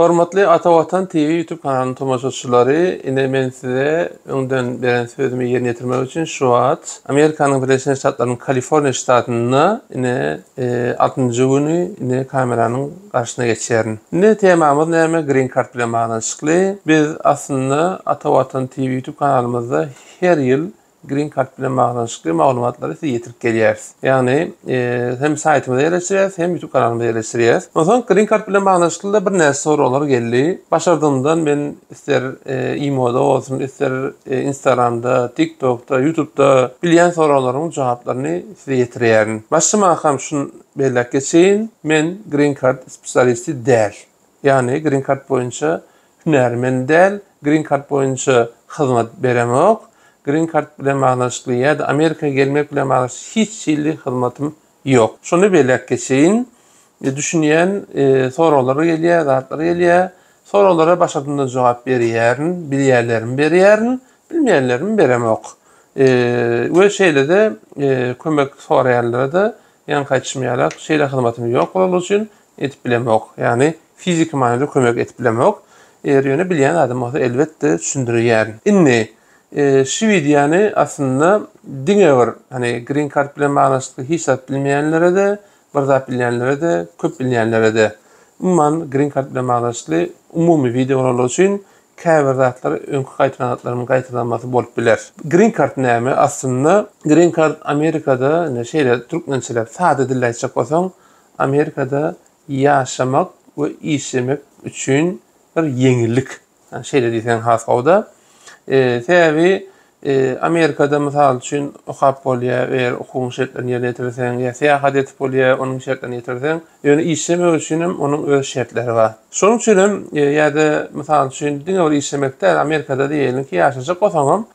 Hormatly Ata Watan TV YouTube kanalynyň tomaşaçylary, ine men size öňden beren sözümi ýerine ýetirmek üçin şu wagt Amerikanyň Birleşen Ştatlarynyň Kaliforniýa ştatynda ine e, altynjy güni ine kameranyň garşysyna geçýärin. Ine temamyz näme? Green Card bilen baglanyşykly. Biz aslynda Ata Watan TV YouTube kanalymyzda her ýyl Green Card bilen baglanyşykly maglumatlary size ýetirip gelýäris. Ýagny, hem saýtymyza ýerleşdirýäris, hem YouTube kanalymyza ýerleşdirýäris. Onsoň Green Card bilen baglanyşykly-da birnäçe soraglar geldi. Başardygymdan men ister imo-da bolsun, ister Instagram-da, TikTok-da, YouTube-da bilýän soraglaryň jogaplaryny size ýetirýärin. Başlamaka şuny belläp geçeýin, men Green Card spesialisti däl. Ýagny, Green Card boýunça hünärmen däl, green card boýunça hyzmat beremok, green card bilen baglanyşykly ýa-da Amerika gelmek bilen baglanyşykly hiç hili hyzmatym ýok. Şony belläp geçeýin, düşünýän soraglar gelýär, zatlar gelýär. Soraglara başardygyma jogap berýärin, bilýänlerimi berýärin, bilmeýänlerimi beremok. We şeýle-de kömek soraýanlara-da ýaňky aýtşym ýalak, şeýle hyzmatym ýok bolalygy üçin edip bilemok. Ýagny fiziki manyda kömek edip bilemok. Eger ýöne bilýän zadym bolsa elbetde düşündirýärin. Indi şu wideony aslynda diňe bir hani green card bilen baglanyşykly hiç zat bilmeýänlere-de, bir zat bilýänlere-de, köp bilýänlere-de, umuman green card bilen baglanyşykly umumy wideo bolanlar üçin käbir zatlar öňki gaýtalan zatlaryň gaýtalanmasy bolup biler. Green card näme? Aslynda green card Amerikada indi şeýle türkmençeläp sada dilde aýtjak bolsaň Amerikada ýaşamak we işlemek üçin bir ýeňillik. Şeýle diýseň has gowuda. Sebäbi Amerikada mysal üçin okap bolýar, eger okuwyň şertlerini ýerine ýetirseň, ýa syýahat edip bolýar, onuň şertlerini ýetirseň. Ýöne işlemek üçin hem onuň öz şertleri bar. Şonuň üçin hem ýa-da mysal üçin diňe bir işlemek däl, Amerikada diýeliňki ýaşajak bolsaňam,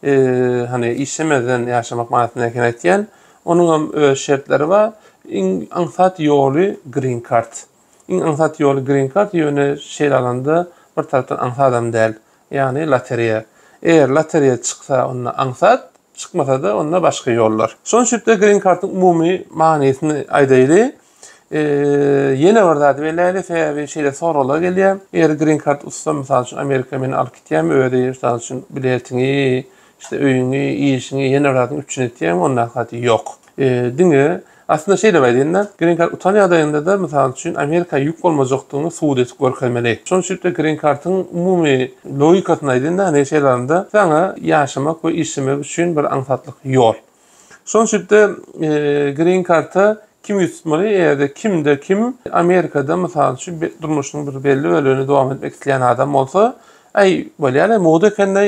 hany işlemezden ýaşamak manysynda ekeni aýtýan, Onuňam öz şertleri bar. Iň aňsat ýoly green kart. Iň aňsat ýoly green kart, ýöne şeýle alanda bir tarapdan aňsadam däl. Ýagny lotereýa. Eger lotereýa çyksa onda aňsat, çykmasa-da onda başga ýollar. Şonuň üçin-de green kartyň umumy manysyny aýdaýly. Ýene bir zat beläýdi, sebäbi şeýle soraglar gelýär. Eger green card ussam, mysal üçin, Amerika meni alyp gitýärmi, özi, mysal üçin, biletiňi, işte, öýüňi, işiňi, ýene bir zadyňy üpjün etýärmi, ondaky zady ýok. Diňe, aslynda şeýle aýdaýyn-da, green card utan ýagdaýynda-da, mysal üçin, Amerika ýük bolmajakdygyňy subut edip görkezmeli. Şonuň üçin-de green card-yň umumy logikasyny aýdaýyn-da, neşe ýalarynda saňa ýaşamak we işlemek üçin bir aňsatlyk ýol. Şonuň üçin-de green karta kim ýüz tutmaly? Eger-de kimde kim Amerikada, mysal üçin, durmuşynyň bir belli bölegini dowam etmek isleýän adam bolsa, äý, bolýar-aý, mugt eken-de,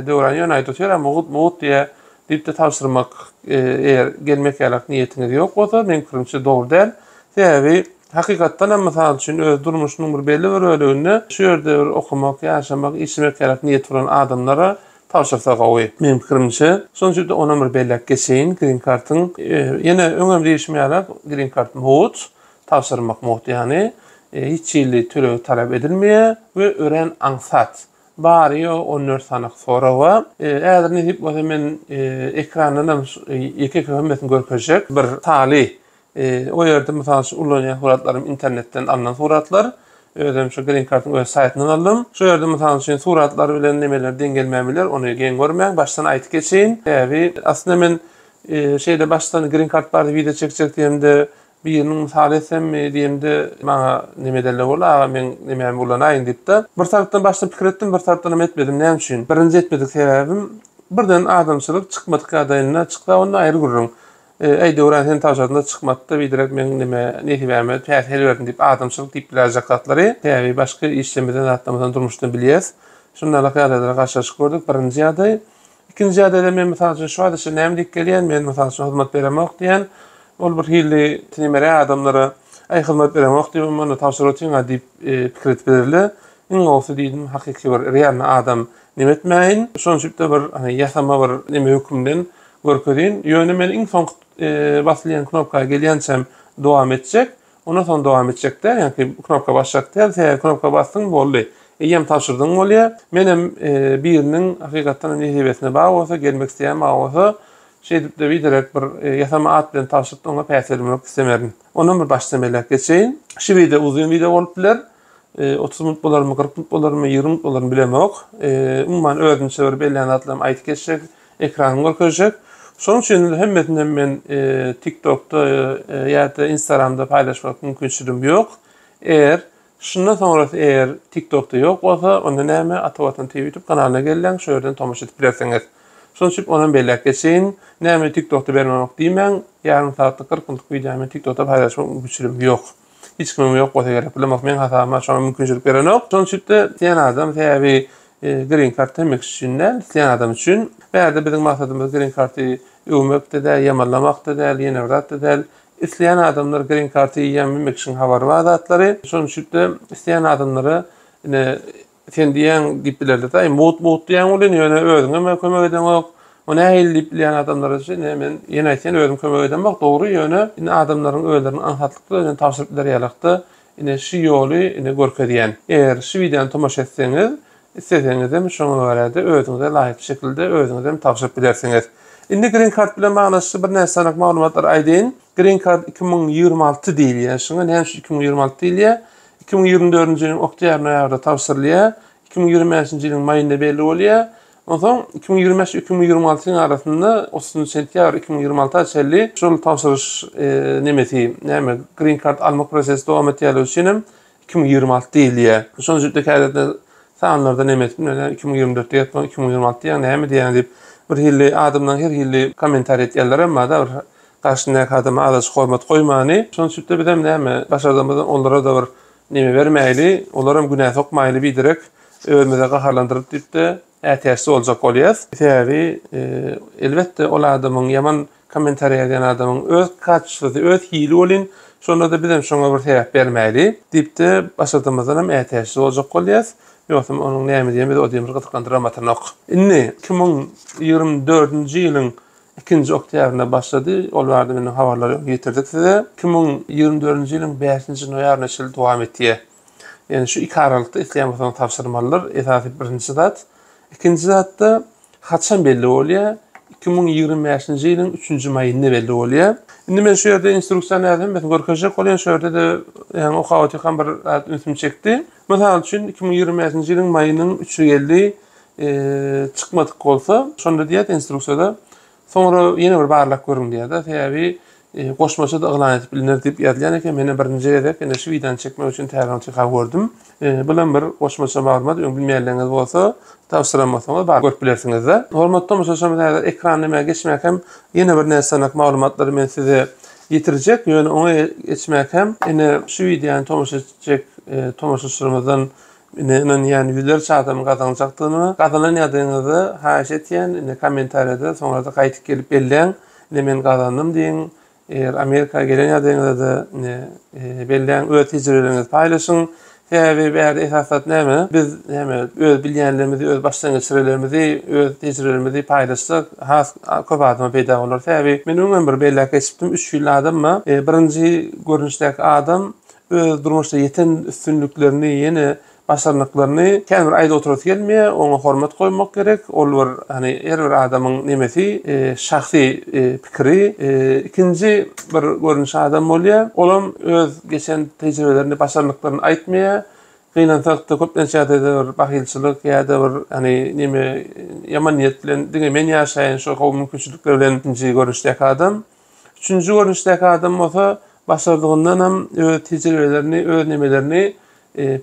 Döwran ýöne aýdyp otyr-a, mugt, mugt diýýä, diýip-de tabşyrmak, eger gelmek ýalak niýetiňiz ýok bolsa, meniň pikirimçe, dogry däl. Sebäbi, hakykatdan hem, mysal üçin, öz durmuşynyň bir belli bir böleginde şu ýerde bir okamak, ýaşamak, işlemek ýalak niýeti bolan adamlara Tabşyrsa gowy. Meň pikirimçe, şonuň üçin-de onam bir belläp geçeýin, grin kartyň, ýene öňem diýişim ýaly, grin kart mugt, tabşyrmak mugt, ýagny hiç hili tölegi talap edilmeýär we örän aňsat. Bary-ýogy on dört sany soraga. Häzir nesip bolsa men ekrandanam ýeke-ýeke hemmesini görkezjek. Bir taly O ýerde mysal üçin ulanýan suratlarym internetden alnan suratlar. Özüm şu Green Card'yň öz saýtyndan aldym. Şu ýerde mysal üçin suratlar bilen nemeler deň gelmän biler, ony geň görmäň. Başdan aýdyp geçeýin. Sebäbi aslynda men şeýle başdan Green Card barada wideo çekjek diýemde, biriniň mysal etsemmi diýemde, maňa neme edenler boldy, aga meň nemämi ulanaýyň diýip-de. Bir tarapdan başdan pikir etdim, bir tarapdan hem etmedim. Näme üçin? Birinji etmedik sebäbim, birden adamçylyk çykmadyk ýagdaýynda çyksa onda aýry gürrüň. Eý, Döwran, sen tagşasyna çykmat-da, biderek meň neme, nesibäme päsgel berdin diýip, adamçylyk diýip biläýjek zatlary, sebäbi başky işlemesem, zatlamesem durmuşdan bilýäs. Şundanlyk ýagdaýlara garşylaşyp gördük, birinji ýagdaý. Ikinji ýagdaýda men, mysal üçin, şu wagt içinde näme diýip gelýän, men, mysal üçin, hyzmat beremok diýän, ol bir hili tinemeräk adamlara, Aý, hyzmat beremok diýibem, onda tabşyryp otyň-a diýip, pikir edip bilerler. Iň gowusy diýdim, hakyky bir realny adam neme etmäýin, şonçip-de bir, hany, ýasama bir neme hökümden görkezin ýöne men iň soňky basylyän knopka gelýänçäm dowam etjek ondan soň dowam etjekde ýaňky knopka basjak däl sebäbi knopka basdyň boldy eýýäm tabşyrdyň bolýa menem biriniň hakykatdanam nesibesine bagy bolsa gelmek isleýän bagy bolsa şeýdipde biderek bir ýasama at bilen tabşyrypda oňa päsgelmek islemerin ondan bir başdan beläk geçeýin şu wideo uzyn wideo bolup biler. 30 minut bolarmy, 40 minut bolarmy, 20 minut bolarmy bilemok. Umuman özüni çöwerip elän zatlarymy aýdyp geçjek, ekranymy görkezjek. Şonuň üçin hemmesini hem men TikTokda ýa-da Instagramda paýlaşmak mümkinçiligim ýok. Eger şundan soňrasy eger TikTokda ýok bolsa, onda näme, Ata Watan TV YouTube kanalyna gelläň, şo ýerden tomaşa edip bilersiňiz. Şonuň üçin onam belläp geçeýin. Näme TikTokda bermemok diýmäň, ýarym sagatlyk, 40 minutlyk wideony men TikTokda paýlaşmak mümkinçiligim ýok. Hiç kimiň ýok bolsa gerek. Bilemok meň hasabyma şoňa mümkinçilik berenok. Şonuň üçin-de isleýän adam sebäbi e, green card hemme kişi üçin däl, isleýän adam üçin. Bärde biziň maksadymyz green karty öwmekde däl, ýamanlamakda däl, ýene bir zatda däl. Isleýän adamlar green karty ýem hemme kişiň habary bar zatlary. Şonuň üçin-de isleýän adamlara ine Sen diýýäň diýip bilerler daýy. Mugt mugt diýýäň welin, ýöne özüňem kömek edeňok. O nähili diýip bilýän adamlara şu ine men ýene aýtýan özüm kömek edemok dogry ýöne indi adamlaryň özleriniň aňsatlykda özüne tabşyryp biler ýalykda ine şu ýoly ine görkezýän. Eger şu wideony tomaşa etseňiz isleseňizem şoňa görä-de özüňize laýyk şekilde özüňizem tabşyryp bilersiňiz. Indi green kart bilen baglaşykly birnäçe sanaly maglumatlary aýdaýyn. Green kart iki müň ýigrimi alty diýilýär. Şuňa näme üçin iki müň ýigrimi alty diýilýär? Iki müň ýigrimi dördünji ýylyň oktýabr-noýabrynda tabşyrylýar, iki müň ýigrimi bäşinji ýylyň maýynda belli bolýar. Onsoň iki müň ýigrimi bäş, iki müň ýigrimi alty ýylyň arasynda otuzynjy sentýabr iki müň ýigrimi alty çenli şol tabşyryş nemesi, näme, green card almak prosesi dowam etýänligi üçin hem iki müň ýigrimi alty diýilýär. Şonuň üçin öýdýän häzirde sanlarda neme etip bilmeýän, iki müň ýigrimi dört diýýärmikä, iki müň ýigrimi alty diýýäňmi, näme diýýäňmi diýip, birhili adamlaryň her hili kommentariý etýänleri hem barda, bir Garşyndaky adama azajyk hormat goýmany. Şonuň üçin-de bizem näme başardygymyzdan onlara-da bir neme bermäýli, olaram günä sokmaýly biderek özümize gaharlandyryp diýip-de ätiýaçsyz boljak bolýas. Sebäbi elbetde ol adamyň ýaman kommentariýa ýazýan adamyň öz kacestwosy, öz hili welin, şonda-da bizem şoňa bir sebäp bermäýli diýip-de başardygymyzdanam ätiýaçsyz boljak bolýas. Ýogsam onuň näme diýen bizi o diýen bir gyzyklandyramatanok. Indi iki müň ýigrimi dördünji ýylyň ikinji oktýabrynda başlady. Ol barada menden habarlary öň ýetirdik size. Iki müň ýigrimi dördünji ýylyň bäşinji noýabryna çenli dowam etýär. Ýagny şu iki aralykda isleýän bolsaňyz tabşyrmalydyr. Esasy birinji zat. Ikinji zatda haçan belli bolýar? Iki müň ýigrimi bäşinji ýylyň üçünji maýynda belli bolýar. Indi men şu ýerde instruksiýa nädip hemmesini görkezjek bolýan şu ýerde-de ýagny okap otyrkam bir zat ünsümi çekdi. Mysal üçin iki müň ýigrimi bäşinji ýylyň maýynyň üçi geldi. çykmadyk bolsa, şonda diýýär instruksiýada, soňra ýene bir barlap görüň diýýär-de, sebäbi goşmaça-da yglan edip bilner diýip ýazylýan eken. Men hem birinji gezek indi şu wideony çekmek üçin täzeden çykar gördüm. Bu hem bir goşmaça maglumat, öň bilmeýänleriňiz bolsa, tabşyran bolsaňyz baryp görüp bilersiňiz-de. Hormatly tomaşaçylarymyz, häzir ekran näme geçmek hem ýene bir näsagnak maglumatlary men size ýetirjek, ýöne oňa geçmek hem indi şu wideony tomaşa etjek tomaşaçylarymyzdan Ine ynanýan ýüzlerçe adam gazanjakdygyny we gazanan ýadyňyzy haýyş etýän ine kommentariýada soňrada gaýtyp gelip belläň ine men gazandym diýiň eger Amerika gelen ýadyňyzada ine belläň öz tejribeleriňizi paýlaşyň sebäbi bärde esas zat näme biz näme öz bilýänlerimizi öz başdan geçirenlerimizi öz tejribelerimizi paýlaşsak has köp adama peýda bolar sebäbi men öňem bir belläp geçipdim üç hili adamma birinji görnüşdäki adam öz durmuşda ýeten üstünliklerini, ýene başarnyklaryny känbir aýda oturasy gelmeýär. Oňa hormat goýmak gerek. Ol bir, hany, her bir adamyň nemesi, şahsy pikiri, ikinji bir görnüşi adam bolýar. Olam öz geçen tejribelerini, başarnyklaryny aýtmaýar. Gynansak-da, köplenç ýagdaýda bir bahylçylyk ýa-da bir, hany, neme, ýaman niýet bilen diňe men ýaşaýyn şu gowy mümkinçilikler bilen ikinji görnüşdäki adam. Üçünji görnüşdäki adam bolsa başardygyndan hem öz tejribelerini, öz nemelerini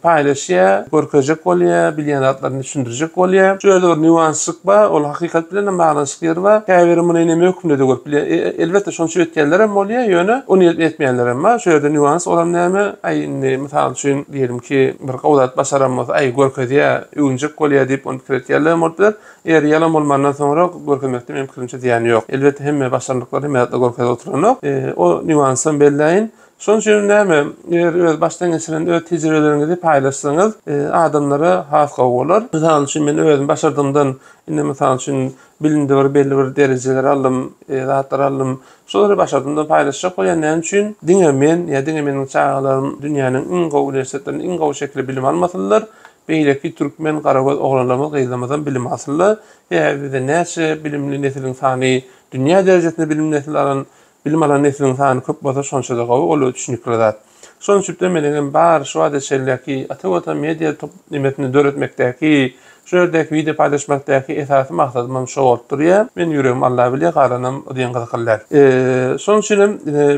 paýlaşýar, görkezjek bolýar, bilýän zatlaryny düşündirjek bolýar. Şu ýerde bir nýuansçyk bar, ol hakykat bilen hem baglanyşykly ýeri bar. Käbiri muny neme hökmünde-de görüp bilýär. Elbetde, şonuň üçin ötýänler hem bolýar, ýöne ony edip etmeýänler hem bar. Şu ýerde nýuans olam näme? Aý, indi, mysal üçin, diýelim ki, bir gowy zat başaran bolsa, aý, görkezýär, öwünjek bolýar diýip, ony pikir etýänler hem bolup biler. Eger ýalan bolmandan soňra görkezmekde meniň pikirimçe zyýan ýok. Elbetde hemme başarnyklary hemme zatlar görkezip oturanok. O nýuansam belleýin. Şonuň üçin näme, eger öz başdan geçiren öz tejribeleriňizi paýlaşsaňyz, adamlara has gowy bolar. Mysal üçin men özüm başardygymdan indi mysal üçin bilimde bir belli bir derejeleri aldym, zatlar aldym. Şolary başardygymdan paýlaşjak bolýan. Näme üçin? Diňe men ýa diňe meniň çagalarym dünýäniň iň gowy uniwersitetlerinde iň gowy şekilde bilim almasynlar. Beýleki türkmen garagöz oglanlarymyz gyzlarymyzam bilim alsynla, sebäbi bizde näçe bilimli nesiliň sany dünýä derejesinde bilim nesil alan bilim alan nesiliň sany köp bolsa şonçada gowy ol tüşnikli zat. Şonuň üçüpde meniňem bar şu wagta çenleki ata watan media top nimesini döretmekdäki şu ýerdäki wideo paýlaşmakdäki esasy maksadymam şo bolup durýa. Meniň ýüregim Alla bilýä galanam o diýen gyzykly däl. Şonuň üçinem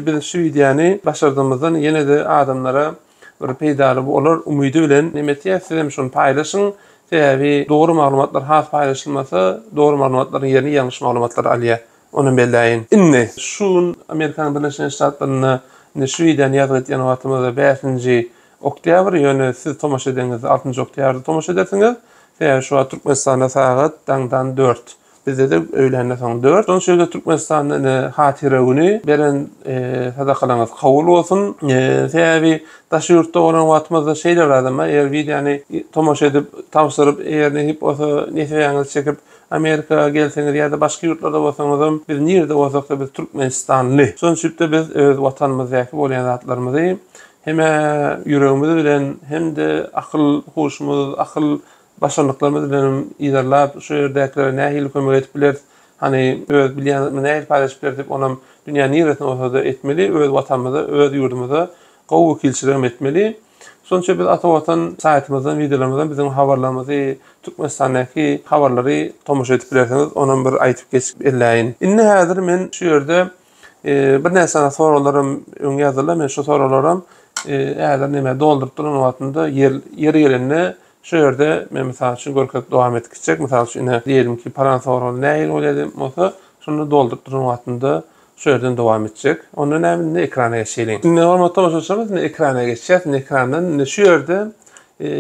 biz şu wideony başardygymyzdan ýenede adamlara bir peýdaly bolar umydy bilen neme etýäs sizem şony paýlaşyň sebäbi dogry maglumatlar has paýlaşylmasa dogry maglumatlaryň ýerini ýalňyş maglumatlar alýar onam belläýin indi şu gün Amerikanyň Birleşen Ştatlarynda indi şu wideony ýazgy etýän wagtymyzda bäşinji oktýabr ýöne siz tomaşa edeňizde altynjy oktýabrda tomaşa edersiňiz sebäbi şu wagt Türkmenistanda sagat daňdan dört. Bizde-de öýlände soň dört. Şonuň üçin-de Türkmenistanda ine Hatyra güni beren sadakalaryňyz kabul bolsun. Sebäbi daş ýurtda bolan wagtymyzda şeýle bir adama eger wideony tomaşa edip, tabşyryp, eger nesip bolsa nesibäňizi çekip Amerika gelseňiz ýa-da başga ýurtlarda bolsaňyzam biz nirede bolsak-da biz türkmenistanly. Şonuň üçin-de biz öz watanymyzdaky bolýan zatlarymyzy hem-ä ýüregimiz bilen hem-de akyl huşumyz, akyl Başarnyklarymyz bilenem yzarlap, şu ýerdäkilere nähili kömek edip bileris, hany, öz bilýän zatymyzy nähili paýlaşyp bileris diýip, onam dünýäniň niresinde bolsa-da etmeli, öz Watanymyza, öz ýurdumyza gowy wekilçiligem etmeli. Şonuň üçin biz Ata Watan saýtymyzdan, wideolarymyzdan biziň habarlarymyzy, Türkmenistandaky habarlary tomaşa edip bilersiňiz, onam bir aýdyp geçip elläýin. Indi häzir men şu ýerde birnäçe sany soraglaram öň ýazylar, men şu soraglaram häzir näme dolduryp duran wagtymda ýeri gelende Şu ýerde men mysal üçin görkezip dowam etdik çek. Mysal üçin ine diýelim ki palan sorag nähili bolýar diýen bolsa şunda dolduryp duran wagtynda şu ýerden dowam etjek. Onda näme indi ekrana geçeýliň. Indi hormatly tomaşaçylarymyz indi ekrana geçýäs. Indi ekrandan indi şu ýerde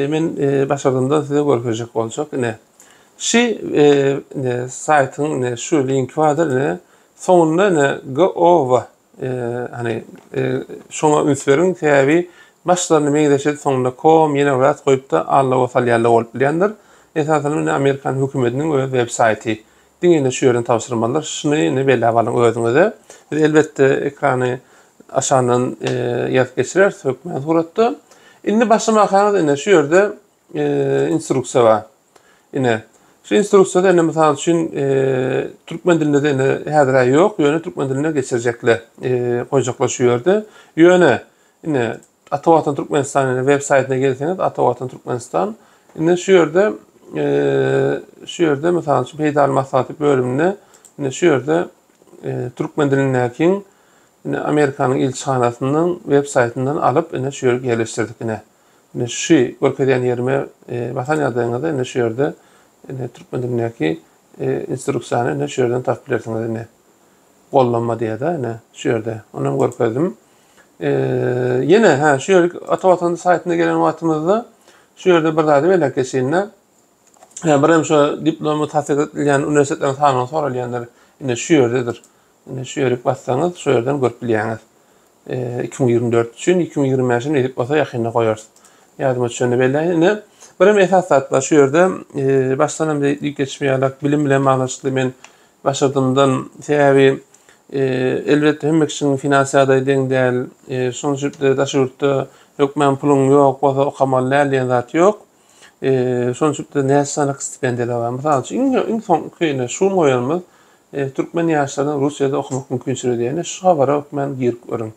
men başardymdan size görkezjek boljak ine. Şi indi saýtyň indi şu linki bardyr indi. Soňunda indi GOV Hani şoňa üns beriň, sebäbi başlaryny meňzeşedi soňunda kom ýene birat goýupda alloga salýarlar bolup bilýändir. Esasanam indi amerikan hökümetiniň öz web saýty. Diňe indi şu ýerden tabşyrmalydyr. Şuny indi belläp alyň özüňize. Biz elbetde ekrany aşandan ýazyp geçireris hökmän suratda. Indi başlamakaňyz indi şu ýerde e, instruksiýa bar. Ine, şu instruksiýada indi mysal üçin e, türkmen dilinde de indi häzir ýok, ýöne türkmen diline geçirjekler, e, goýjaklar şu ýerde. Ýöne indi Ata Watan Türkmenistan indi web saýtyna gelseňiz, Ata Watan Türkmenistan indi şu ýerde e, şu ýerde mysal üçin peýdaly maslahaty bölüminde indi şu ýerde e, türkmen dilindäki indi Amerikanyň ilçihanasynyň web saýtyndan alyp indi şu ýere ýerleşdirdik indi. Indi şu görkezýän ýerime basan ýagdaýyňyzda indi şu ýerde indi türkmen dilindäki instruksiýany indi şu ýerden tapyp bilersiňiz indi. Gollanma diýýär-de indi şu ýerde. Ony hem görkezdim. Ýene ha şu ýerlik ata watan saýtyna gelen wagtymyzda şu ýerde bir zady belläp geçeýin-de. Hä, bir hem şu diplomy tassyk edilýän uniwersitetleriň sanawy soralýandyr. Indi şu ýerdedir. Indi şu ýerik bassaňyz, şu ýerden görüp bilýäňiz. iki müň ýigrimi dört üçin iki müň ýigrimi bäşe neýdip bolsa ýakynda goýarys. Ýadyma düşende belläýin. Ine, birem esas zat bar. Şu ýerde başdanam diýip geçmeýärler. Bilim bilen baglanyşykly men başardymdan, sebäbi elbetde hemme kişiniň finans ýagdaýy deň däl. Şonuň üçin-de daşy ýurtda hökman puluň ýok bolsa okamaly däl diýen zat ýok. Şonuň üçin näçe sanaky stipendiýalar bar. Mysal üçin, iň iň soňky ine şu goýanymyz türkmen ýaşlarynyň Russiýada okamak mümkinçiligi diýen. Ine şu habara hökmän girip görüň.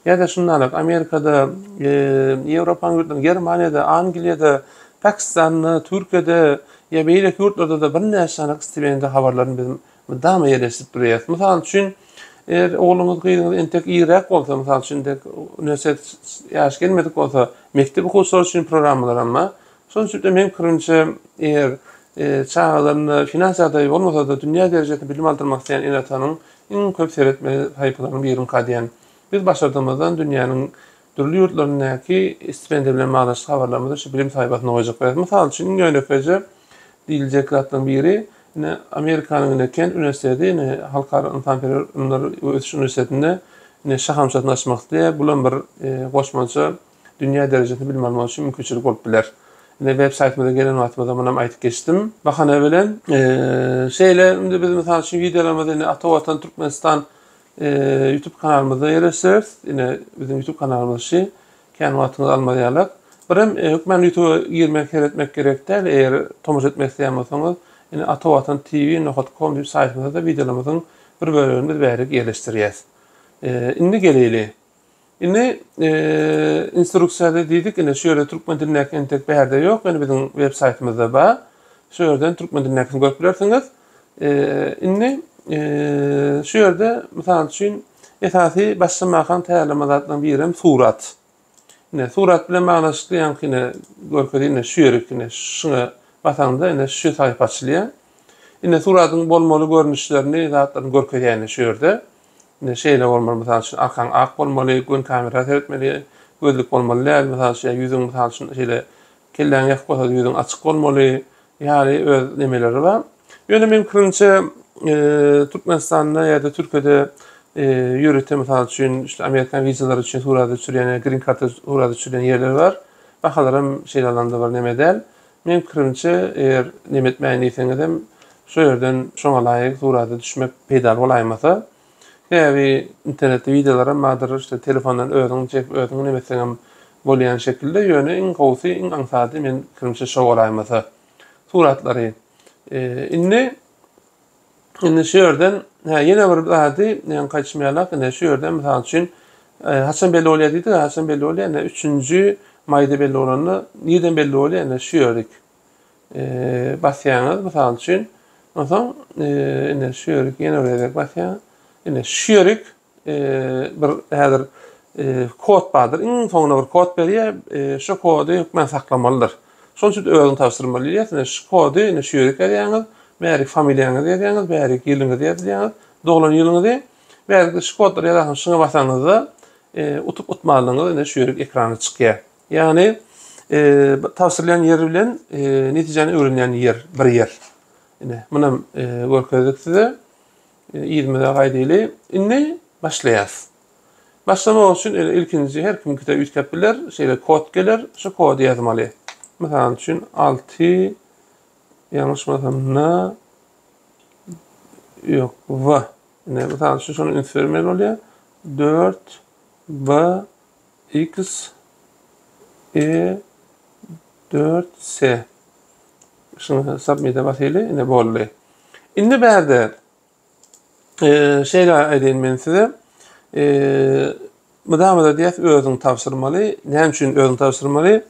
Ýa-da şundanam Amerikada, Ýewropanyň ýurtlarynda, Germaniýada, Angliýada, Pakistanda, Türkiýede ýa beýleki ýurtlarda-da birnäçe sanaky stipendiýa habarlaryny biz Mydama ýeleşip durýas. Mysal üçin, eger ogluňyz, gyzyňyz entek iriräk bolsa, mysal üçin, dek uniwersitet ýaşy gelmedik bolsa, mekdep okuwçylary üçin programmalaram bar. Şonuň üçin-de, meniň pikirimçe, eger çagalarynda finans ýagdaýy bolmasa-da, dünýä derejesinde bilim aldyrmak isleýän ene-atanyň iň köp seretmeli sahypalarynyň biri-nka diýýän. Biz başardygymyzdan dünýäniň Dürli ýurtlaryndaky stipendiýa bilen baglaşykly habarlarymyzy şu bilim saýypasyna goýjak bolarys. Mysal üçin, iň ýönekeýje diýiljek zatlaryň biri, ine, Amerikanyň, ine, Kent uniwersiteti, ine, Halkara ynsanperwer ylymlar we ösüş uniwersitetinde, ine, şahamçasyny açmak isleýär. Bulam bir goşmaça dünýä derejesinde bilim almak üçin mümkinçilik bolup biler. Ine, websaýtymyza gelen wagtymyzda munam aýdyp geçdim. Bahana bilen, şeýle, indi biz, mysal üçin, wideolarymyzy, ine, Ata Watan, Türkmenistan YouTube kanalymyza ýerleşseris, ine biziň YouTube kanalymyz şu. Kän wagtyňyzy almaz ýalak. Birem hökman YouTube-a girmek, seretmek gerek däl. Eger tomaşa etmek isleýän bolsaňyz, ine Atawatan TV nokat kom diýip saýtymyzda-da wideolarymyzyň bir bölegini biz bärik ýerleşdirýäs. Indi geleýli. Indi instruksiýada diýdik, indi şu ýerde türkmen dilindäki entek bärde ýok, indi biziň web saýtymyzda bar. Şu ýerden türkmen dilindäkini görüp bilersiňiz. Indi şu ýerde mysal üçin esasy başlamakaň taýýarlama zatlaryň biri hem surat. Indi surat bilen baglaşykly ýaňkyny görkezýän indi şu ýerik indi şuňa basaňda indi şu saýpa açylýar. Indi suratyň bolmaly görnüşlerini zatlaryny görkezýär indi şu ýerde. Indi şeýle bolmaly, mysal üçin, arkaň ak bolmaly, gün kamera seretmeli, gözlük bolmaly däl, mysal üçin, ýa ýüzüň, mysal üçin, şeýle kelläň ýasyk bolsa-da ýüzüň açyk bolmaly ýaly öz nemeleri bar. Ýöne meniň pikirimçe, Türkmenistanda ýa-da Türkiýede ýörite, mysal üçin, şu amerikan wizalary üçin surata düşürýän ýa grin karta surata düşürýän ýerler bar. Bahalaram şeýle alanda bir neme däl. Meň pikirimçe, eger neme etmäýin diýseňizem, şo ýerden şoňa laýyk surata düşmek peýdaly bolaýmasa. Sebäbi internetde wideolaram bardyr, işte, telefondan özüňi çekip, özüňi neme etseňem bolýan şekilde, ýöne iň gowusy, iň aňsady, meň pikirimçe, şo bolaýmasa. Suratlary. Indi. Indi şu ýerden, hä, ýene bir zady ýaňy gaýtmaýalak, ine, şu ýerden, mysal üçin, e, haçan belli bolýar diýdik, haçan belli bolýar, ine, üçünji maýda belli bolanda, nireden belli bolýar, ine, şu ýerik e, basýaňyz, mysal üçin, onsoň, e, ine, şu ýerik ýene bir gezek basýaňyz, ine, şu ýerik, bir häzir kod bardyr. Iň soňuna bir kod berýär. Şu kody hökmän saklamalydyr. Şonuň üçin özüňi tabşyrmaly diýýär. Şu kody indi şu ýere ýazýaňyz. Bärik familiýaňyzy ýazýaňyz, bärik ýylyňyzy ýazýaňyz, doglan ýylyňyzy. Bärikde şu kodlary ýazarsyňyz. Şuňa basaňyzda utup utmalydygyňyz indi şu ýerik ekrana çykýar. Ýagny tabşyrylýan ýer bilen netijäni öwrenýän ýer bir ýer. Ine, munam görkezdik size. Yzymyza gaýdyly. Indi başlaýas. Başlamak üçin ele ilkinji her kimkide üýtgäp biler, şeýle kod geler, şu kody ýazmaly. Mysal üçin 6 ýalňyşmasam na ýok w. Indi mysal üçin şony üns bermeli bolýar. 4 b X, E, dört, se. Şunu submit-e basyly, ine boldy. Indi bärde e, şeýle aýdaýyn men size. E, mydama-da diýýäs özüň tabşyrmaly. Näme üçin özüň tabşyrmaly?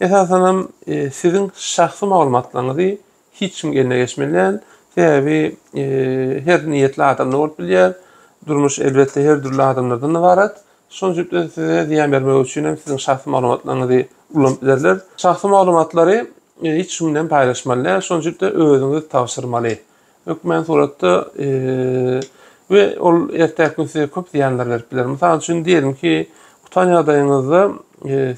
Esasanam e, siziň şahsy maglumatlaryňyzy hiç kimiň eline geçmeli däl. Sebäbi her niýetli adam ne bolup bilýär. Durmuş elbetde her dürli adamlardan ybarat. Şonuň üçin de size zyýan bermek üçin hem siziň şahsy maglumatlaryňyzy ulanyp bilerler. Şahsy maglumatlary hiç kim bilen paýlaşmaly däl. Şonuň üçin de özüňiz tabşyrmaly. Hökmän suratda we ol ertäki gün size köp zyýanlar berip biler. Mysal üçin diýelim ki, gutan ýagdaýyňyzda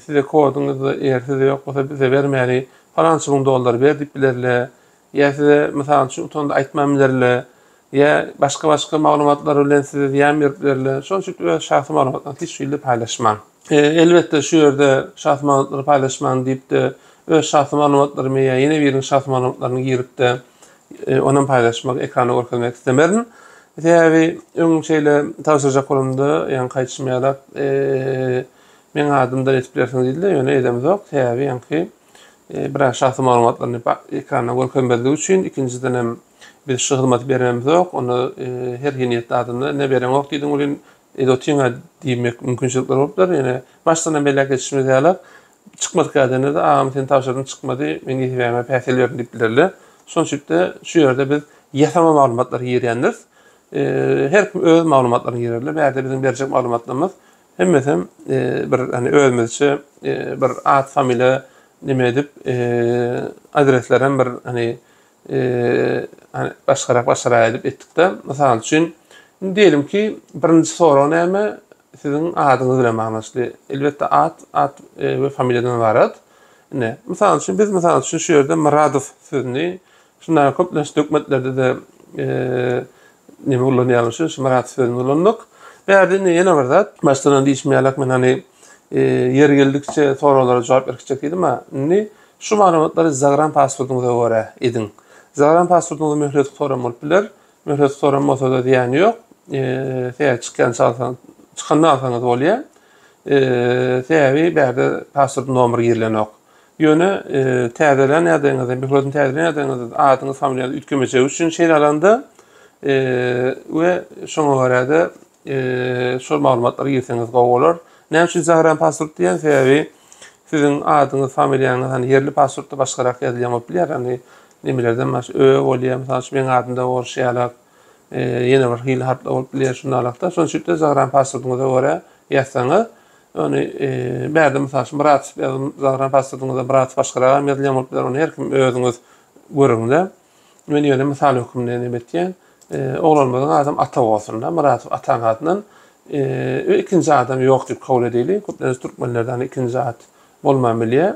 size koduňyzy eger sizde ýok bolsa bize bermäli Palançy müň dollar ber diýip bilerle, ýa size mysal üçin utanda aýtman bilerle, ýa başga-başga maglumatlar bilen size zyýan berip bilerle. Şonuň üçin öz şahsy maglumatlaryňyzy hiç hili paýlaşmaň. Elbetde şu ýerde şahsy maglumatlary paýlaşman diýipde öz şahsy maglumatlarymy ýa ýene biriniň şahsy maglumatlaryny giripde onam paýlaşmak, ekranda görkezmek istemerin. Sebäbi öň şeýle tabşyrjak bolamda ýaňky aýdyşym ýalak Meň adym da ýetip bilersiň diýdi-de, ýöne edemzok, sebäbi ýaňky biraz şahsy maglumatlaryny ekranda görkezmezlik üçin, ikinjiden hem biz şu hyzmaty beremzok, onda her hiniýetli adamdan ne bereňok diýdiň welin, edotiň-a diýmek mümkinçilikler bolupdyr, ýöne başdan hem belläp geçişimiz ýaly, çykmadyk ýagdaýynda-da agam sen tabşyrdym çykmady, men ýesebäme päsgel berdim diýip bilerler. Şonuň üçinlikde şu ýerde biz ýasama maglumatlary girýändiris. Her kim öz maglumatlaryny girerler, bärde biziň berjek maglumatlarymyz Hemmesem bir hani özümizçe bir at familiýa neme edip adreslerem bir hani başgarak başgarak edip etdikde mysal üçin indi diýelim ki birinji sorag näme siziň adyňyz bilen baglanşykly elbetde at at we familiýadan ybarat ine mysal üçin biz mysal üçin şu ýerde myradow sözüni Şunda köplenç dökmetlerde-de nemi ulanýarlar, şu şmyrat sözüni ulanmak. Bärde indi ýene bir zat, başdan diýişmeýärlik, men hani ýeri geldikçe soraglara jogap berip gitjek diýdim-ä. Indi şu maglumatlary zagram pasportyňyza görä ediň. Zagram pasportyňyza möhlet gutaran bolup biler. Möhlet gutaran bolsa-da zyýany ýok. Sebäbi çykýan çalsaň, çykanda alsaňyz bolýar. Sebäbi bärde pasport nomeri girilenok. Ýöne täzelän ýagdaýyňyzda, mikroskopyny täzelän ýagdaýyňyzda adyňyz, familiýaňyz üýtgemejegi üçin şeýle alanda we şoňa görä-de şol maglumatlary girseňiz gowy bolar. Näme üçin Zahran pasport diýýän? Sebäbi siziň adyňyz, familiýaňyz hani ýerli pasportda başgarak ýazylýan bolup bilýär. Hani nemelerden baş ö bolýar, mysal üçin meň adymda orşýalak ýene bir hili hatlar bolup bilýär şu nalakda. Şonuň üçin de Zagran paswordyňyza görä ýazsaňyz, ony bärde mysal üçin bir atyp ýazyň, Zagran paswordyňyza bir atyp başgaragam ýazylýan bolup biler, ony her kim özüňiz görüň-de. Men ýöne mysal hökmünde neme etýän, oglanymyzyň adam Ata bolsun-da, Myradow Ataň adyndan we ikinji adam ýok diýip kabul edeli, köplenç türkmenlerde hani ikinji at bolman bilýär.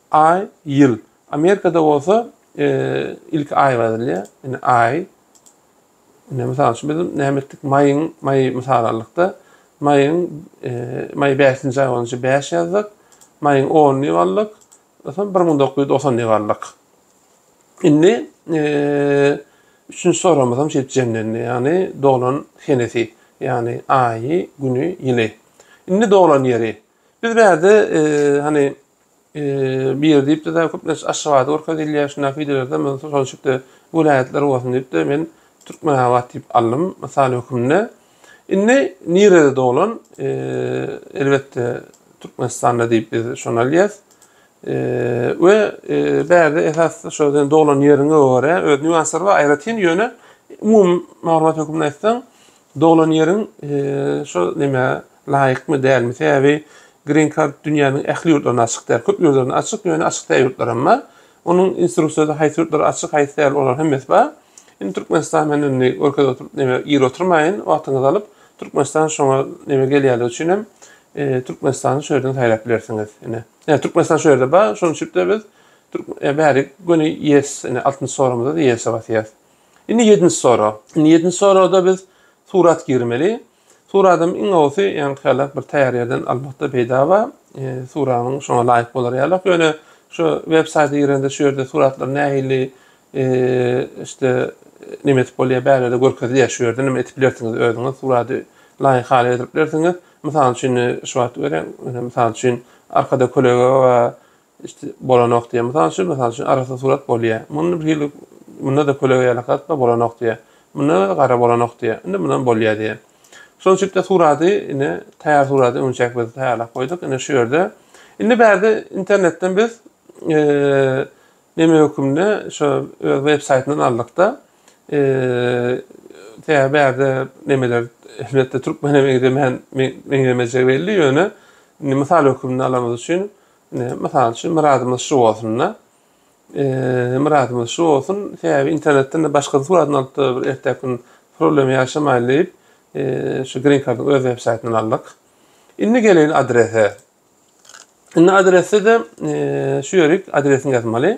Aý, ýyl. Amerikada bolsa ilki aý ýazylýar. Indi aý. Indi mysal üçin biz näme etdik? Maýyň, maý mysal aldykda, maýyň maý 5-nji aý bolunca 5 ýazdyk. Maýyň 10-ny diýip aldyk. Soň 1990 diýip aldyk. Indi üçünji soragymyz hem şeýdip jemlendi. Ýagny doglan senesi, ýagny aýy, güni, ýyly. Indi doglan ýeri. Biz bärde hani bir diýipdi de köp näçe aşgabady görkezilýär şunda fidelerde men şol şekilde welaýatlar bolsun diýipdi men türkmenabat diýip aldym mysal hökümde indi nirede doglan elbetde türkmenistanda diýip biz şony alýas we bärde esas şo sen doglan ýeriňe görä öz nüanslary bar aýratyn ýöne umumy maglumat hökümde aýtsaň Doglan ýeriň şo nämä laýykmy dälmi? Sebäbi Green Card dünýäniň ähli ýurtlaryna açyk däl. Köp ýurtlaryna açyk, ýöne açyk däl ýurtlar hem bar. Onuň instruksiýasy haýsy ýurtlara açyk, haýsy däl olar hemmesi bar. Indi Türkmenistan men indi görkez oturyp näme ir oturmaýyn, wagtyňyzy alyp Türkmenistan şoňa näme gelýänligi üçin hem Türkmenistany şu ýerden saýlap bilersiňiz. Ine. Ýa Türkmenistan şu ýerde bar, şonuň üçin de biz bärik göni yes, ine altynjy soragymyzda da yes basýas. Indi ýedinji sorag. Indi ýedinji soragda biz surat girmeli. Suradym iň gowusy ýaňky ýalak bir taýýar ýerden almakda peýda bar. E, suratyň şoňa laýyk bolar ýalak. Ýöne şu web saýta girende şu ýerde suratlar nähili e, işte nime edip bolýar bärede görkezilýär şu ýerde nime edip bilersiňiz özüňiz surady laýyk hala getirip bilersiňiz. Mysal üçin şu wagt görýän, misal üçin arkada kölege we Işte bolanok diýýär. Mysal üçin, mysal üçin arassa surat bolýar. Muny bir hili munda-da köleg ýaly gatma bolanok diýýär. Munda-da gara bolanok diýýär. Indi mundan bolýar diýýär. Şonuň üçin-de surady indi taýýar surady öňçäk biz taýýarlap goýduk. Indi şu ýerde indi bärde internetden biz neme hökümde şo öz web saýtyndan aldyk-da tä bärde nemeler elbetde türkmen meňzemeýän meňzemejegi belli ýöne indi mysal hökümde alanymyz üçin Mysal üçin, myradymyz şu bolsun-da. Myradymyz şu bolsun, sebäbi internetden-de başga suratyny alyp-da bir erteki gün problem ýaşamaýyn diýip, şu Green Card-yň öz websaýtyndan aldyk. Indi geleýin adrese. Indi adrese-de şu ýerik, adresini ýazmaly.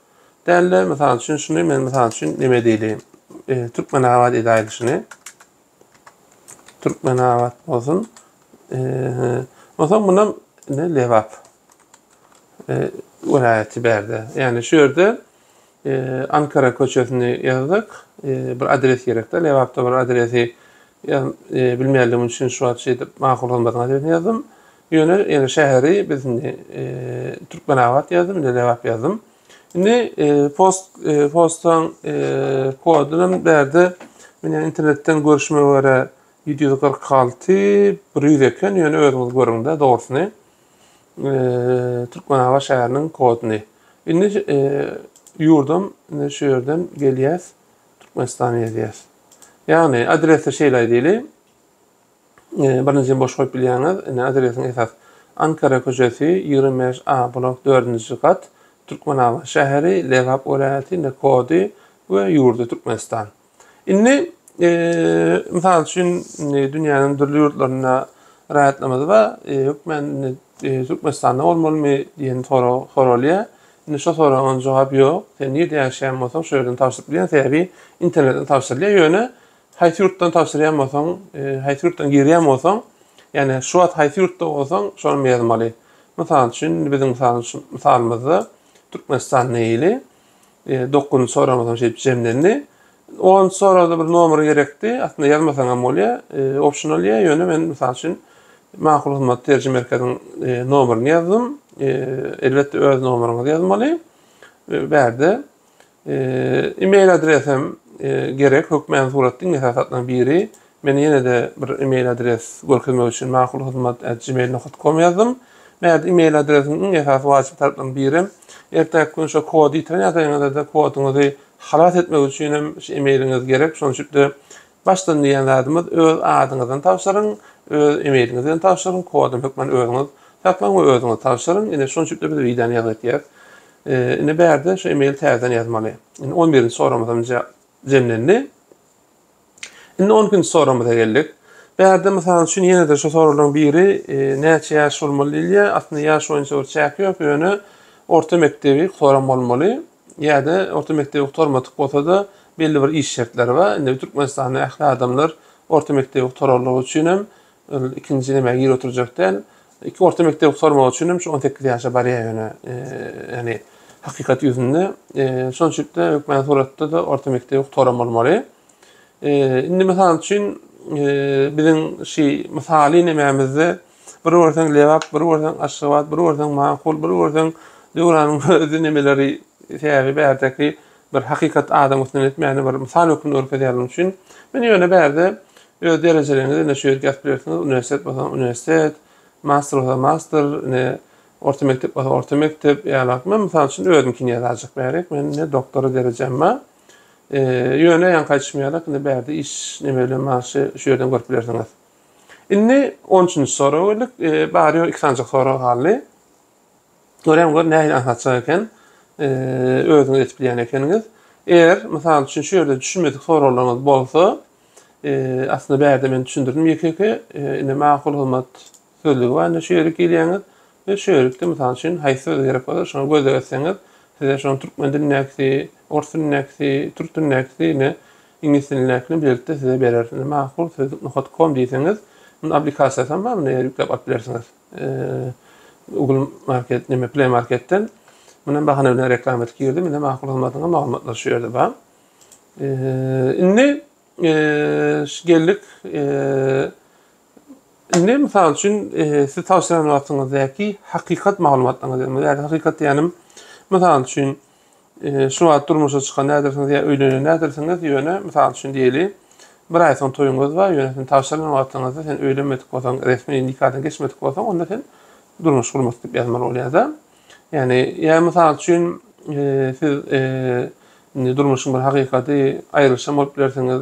Dälde, mysal üçin, şuny men mysal üçin neme diýli? E, Türkmenabat edäýli şuny. Türkmenabat bolsun. E, Onsoň buna ne Lebap e, welaýaty bärde. Ýagny şu ýerde e, Ankara köçesini ýazdyk. E, bir adres gerekde. Lebapda bir adresi e, bilmeýänligim üçin şu wagt şeýdip makul hyzmatyň adresini ýazdym. Ýöne ýene şäheri biz indi Türkmenabat ýazdym, indi Lebap ýazdym. Indi post postaň koduny hem bärde meni internetden görüşime görä 746 100 eken, ýöne özüňiz görüňde dogrusyny. Türkmenabat şäheriniň koduny. Indi ýurdum indi şu ýerden gelýäs, Türkmenistan ýazýas. Ýagny adresi şeýle aýdyly. Birinjini boş goýup bilýäňiz. Indi adresiň esas. Ankara köçesi, ýigrimi bäş A blok, dördünji gat, Türkmenabat şäheri, Lebap welaýaty, indi kody we ýurdy Türkmenistan. Indi mysal üçin dünýäniň dürli ýurtlarynda raýatlarymyz bar. Hökmän Türkmenistanda bolmalymy diýen sorag soralýar. Indi şo soragyň jogap ýok. Sen nirede ýaşaýan bolsaň şo ýerden tabşyryp bilýän, sebäbi internetden tabşyrylýar. Ýöne Haýsy ýurtdan tabşyrýan bolsaň, haýsy ýurtdan girýän bolsaň, ýagny şu wagt haýsy ýurtda bolsaň, şony ýazmaly. Mysal üçin, indi biziň mysalymyzda Türkmenistan meýli, dokuzynjy soragymyz hem şeýdip jemlendi. Onunjy soragda bir nomer gerekdi, aslynda ýazmasaň hem bolýar, optional ýa, ýöne men mysal üçin Makul hyzmat terjime merkeziň nomerini ýazdym. Elbetde öz nomeryňyzy ýazmaly. Bärde E-mail adres hem gerek. Hökmän surat diň esas zatlaryň biri. Men ýene-de bir e-mail adres görkezmek üçin makulhyzmat@gmail.com ýazdym. Näde e-mail adresiň iň esasy wajyp tarplaryň biri hem ertäki gün şo kody ýitiren ýagdaýyňyzda koduňyzy halas etmek üçin hem şu e-mailiňiz gerek. Şonuň üçin-de başdan diýen zadymyz öz adyňyzdan tabşyryň, öz e-mailiňizi hem tabşyryň, kody hökmän özüňiz saklaň we özüňiz tabşyryň. Ine şonuň üçin-de biz widany ýazgytýarys. Ee, indi bärde şu email täzeden ýazmaly. Indi 11-nji soragymyz hem jemlendi. Indi 12-nji soragymyza geldik. Bärde mysal üçin ýene-de şu soraglaryň biri e, näçe ýaş bolmaly diýilýär. Aslynda ýaş boýunça bir çäk ýok, ýöne orta mekdebi gutaran bolmaly ýa-da orta mekdebi gutarmadyk bolsa-da belli bir iş şertleri bar. Indi Türkmenistanda ähli adamlar orta mekdebi gutaranlygy üçin hem Ol ikinji näme gir oturjak däl. Iki orta mekdep sormagy üçin hem şu 18 ýaşa barýar ýöne. Ýani hakykat ýüzünde şonçukda hökmän suratda da orta mekdep oktoram bolmaly. Indi mysal üçin biziň şu mysaly nämämizde bir görseň Lebap, bir görseň Aşgabat, bir görseň Makul, bir görseň Döwranyň özi nämeleri sebäbi bärdeki Bir hakykat adam üstünden etmäni bir mysal hökmünde görkezýär munuň üçin. Men ýöne bärde öz derejeleriňizi indi şu ýerki ýazyp bilersiňiz, uniwersitet bolsa uniwersitet, master bolsa master, indi orta mekdep bolsa orta mekdep ýalak. Men mysal üçin özümkini ýazajak bärik. Men indi doktora derejem bar. Ýöne ýaňky aýdyşym ýalak indi bärde iş neme bilen bagşy şu ýerden görüp bilersiňiz. Indi on üçünji soraga geldik. Bary ýok iki sanjak sorag galdy. Görem gör nähili aňsatjak eken. Özüňiz edip bilýän ekeniňiz. Eger mysal üçin şu ýerde düşünmedik soraglaryňyz bolsa, aslynda bärde men düşündirdim ýeke-ýeke. Indi makul hyzmat sözlügi bar indi şu ýere girýäňiz we şu ýerlikde mysal üçin haýsy söze gerek bolsa şoňa göz degretseňiz size şonuň türkmen dilindäkisi, ors dilindäkisi, türk dilindäkisi indi iňlis dilindäkini bilelikde size berer. Indi makul sözlük nokat kom diýseňiz, munuň aplikasiýasy hem bar, muny ýükläp alyp bilersiňiz. Google Market, näme Play Marketden muny bahana bilen reklama edip girdim. Indi makul hyzmatyna maglumatlar şu ýerde bar. Indi geldik. Indi mysal üçin siz tawsiýe eden wagtyňyzdaki hakykat maglumatlaryňyzy, ýa hakykat diýenim, mysal üçin Şu wagt durmuşa çykan nädersiňiz ýa öýlenen nädersiňiz, ýöne, mysal üçin diýeli, bir aý soň toýuňyz bar, ýöne sen tabşyrylýan wagtlaňyzda sen öýlenmedik bolsaň, resmi nikadan geçmedik bolsaň, onda sen durmuş gurmak diýip ýazmaly bolýar-da. Ýagny, ýa mysal üçin, siz indi durmuşyň bir hakykady, aýrylyşan bolup bilersiňiz,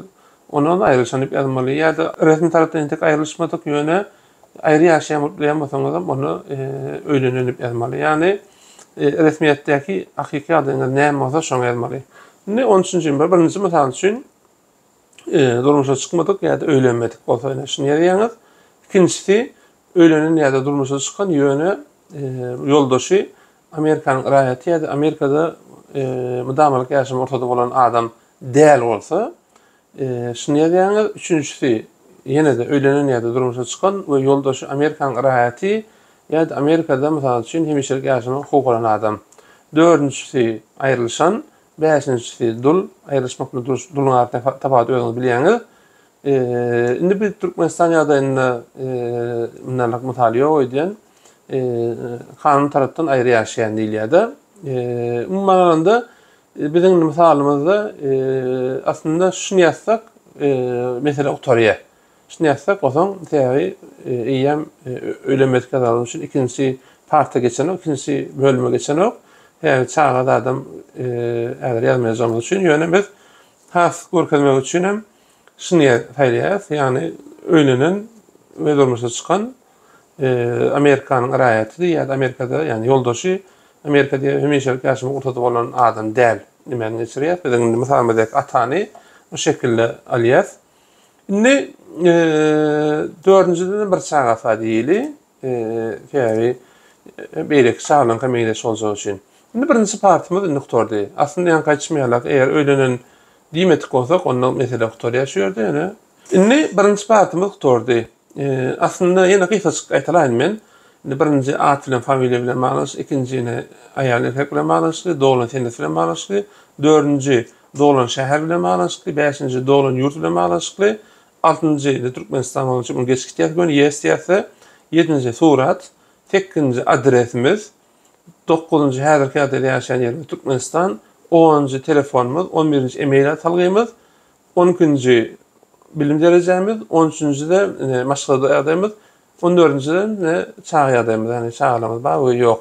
onda-da aýrylyşan diýip ýazmaly ýa-da resmi tarapdan entek aýrylyşmadyk, ýöne Aýry ýaşaýanbolsaňyzam onda öýlenen diýip ýazmaly. Ýagny resmiýetdäki hakyky adyňyz näme bolsa şoňa ýazmaly. Indi on üçünji bir birinji mysal üçin durmuşa çykmadyk ýa-da öýlenmedik bolsa ýene şuny ýazýaňyz. Ikinjisi öýlenen ýa-da durmuşa çykan ýöne ýoldaşy Amerikanyň raýaty ýa-da Amerikada mydamalyk ýaşama rugsady bolan adam däl bolsa Şuny ýazýaňyz, üçünjisi, ýene-de öýlenen ýa-da durmuşa çykan we ýoldaşy Amerikanyň raýaty ýa-da Amerikada, mysal üçin, hemişelik ýaşamagy hukugy bolan adam. Dördünjisi, aýrylyşan. Bäşinjisi, dul. Aýrylyşmak bilen duruş, duluň arasyndaky tapawudy özüňiz bilýäňiz. Indi biz Türkmenistan ýagdaýynda mundanrak mysal ýok öýdýän. Kanun tarapdan aýry ýaşaýan diýilýär-de. Umuman alanda, Biziň mysalymyzda aslynda şuny ýazsak, mesele gutarýar. Şuny ýazsak, bolsaň, sebäbi eýýäm öýlen mesge zaly üçin ikinji parta geçenok, ikinji bölüme geçenok. Sebäbi çaga zadam häzir ýazmaýajagymyz üçin, ýöne biz has görkezmek üçin hem şuny saýlaýarys, ýagny öýlenen we durmuşa çykan e, Amerikanyň raýatydy ýa-da Amerikada, ýagny ýoldaşy Amerika diýip hemişelik ýaşamak rugsady bolan adam däl. Nimäni geçirýär? Biz indi mysalymyzdaki atany bu şekilde alýas. Indi e, dördünjiden bir çaga sa diýeli. E, sebäbi e, beýleki çagalaryň hem meňzeş boljagy üçin. Indi birinji partymyz indi gutardy. Aslynda ýaňky aýtýşym ýaly, eger öýlenen diýmedik bolsak, onda mesele gutarýar şu ýerde ýöne. Indi birinji partymyz gutardy. Aslynda ýene gysgaçyk aýtalaýyn men. Indi birinji at bilen familiýa bilen baglanyşykly, ikinji ýene aýal erkek bilen baglanyşykly, doglan senet bilen baglanyşykly, dördünji doglan şäher bilen baglanyşykly, bäşinji doglan ýurt bilen baglanyşykly, altynjy indi Türkmenistan bolan üçin geçgi diýýäs göni ýes diýýäs, ýedinji surat, sekizinji adresimiz, dokuzynjy häzirki ýagdaýda ýaşaýan ýerimiz Türkmenistan, onunjy telefonymyz, on birinji e-mail atalgymyz, On ikinji bilim derejämiz, on üçünjide ine maşgala ýagdaýymyz, on dördünjide ine çaga ýagdaýymyz, ýagny çagalarymyz bar we ýok.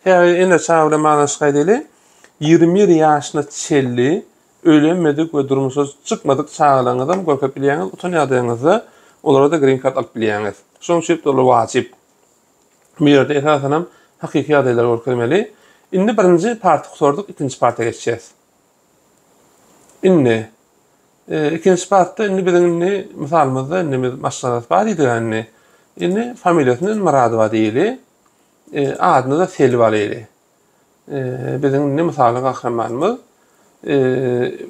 Häzir ene çaga bilen baglanyşyk aýdaýly. Ýigrimi bir ýaşyna çenli öýlenmedik we durmuşa çykmadyk çagalaryňyzam görkezip bilýäňiz, utan ýagdaýyňyzda olara-da green card alyp bilýäňiz. Şonuň üçin doly wajyp. Bu ýerde esasanam hakyky ýagdaýlary görkezmeli. Indi birinji party gutardyk, ikinji parta geçýäs. Indi, ikinji parta indi biziň indi mysalymyzda indi biz maşgalasy bar diýdik indi. Indi familiýasyny Myradowa diýeli. Adyny-da Selbi alyly. Biziň indi mysaly gahrymanymyz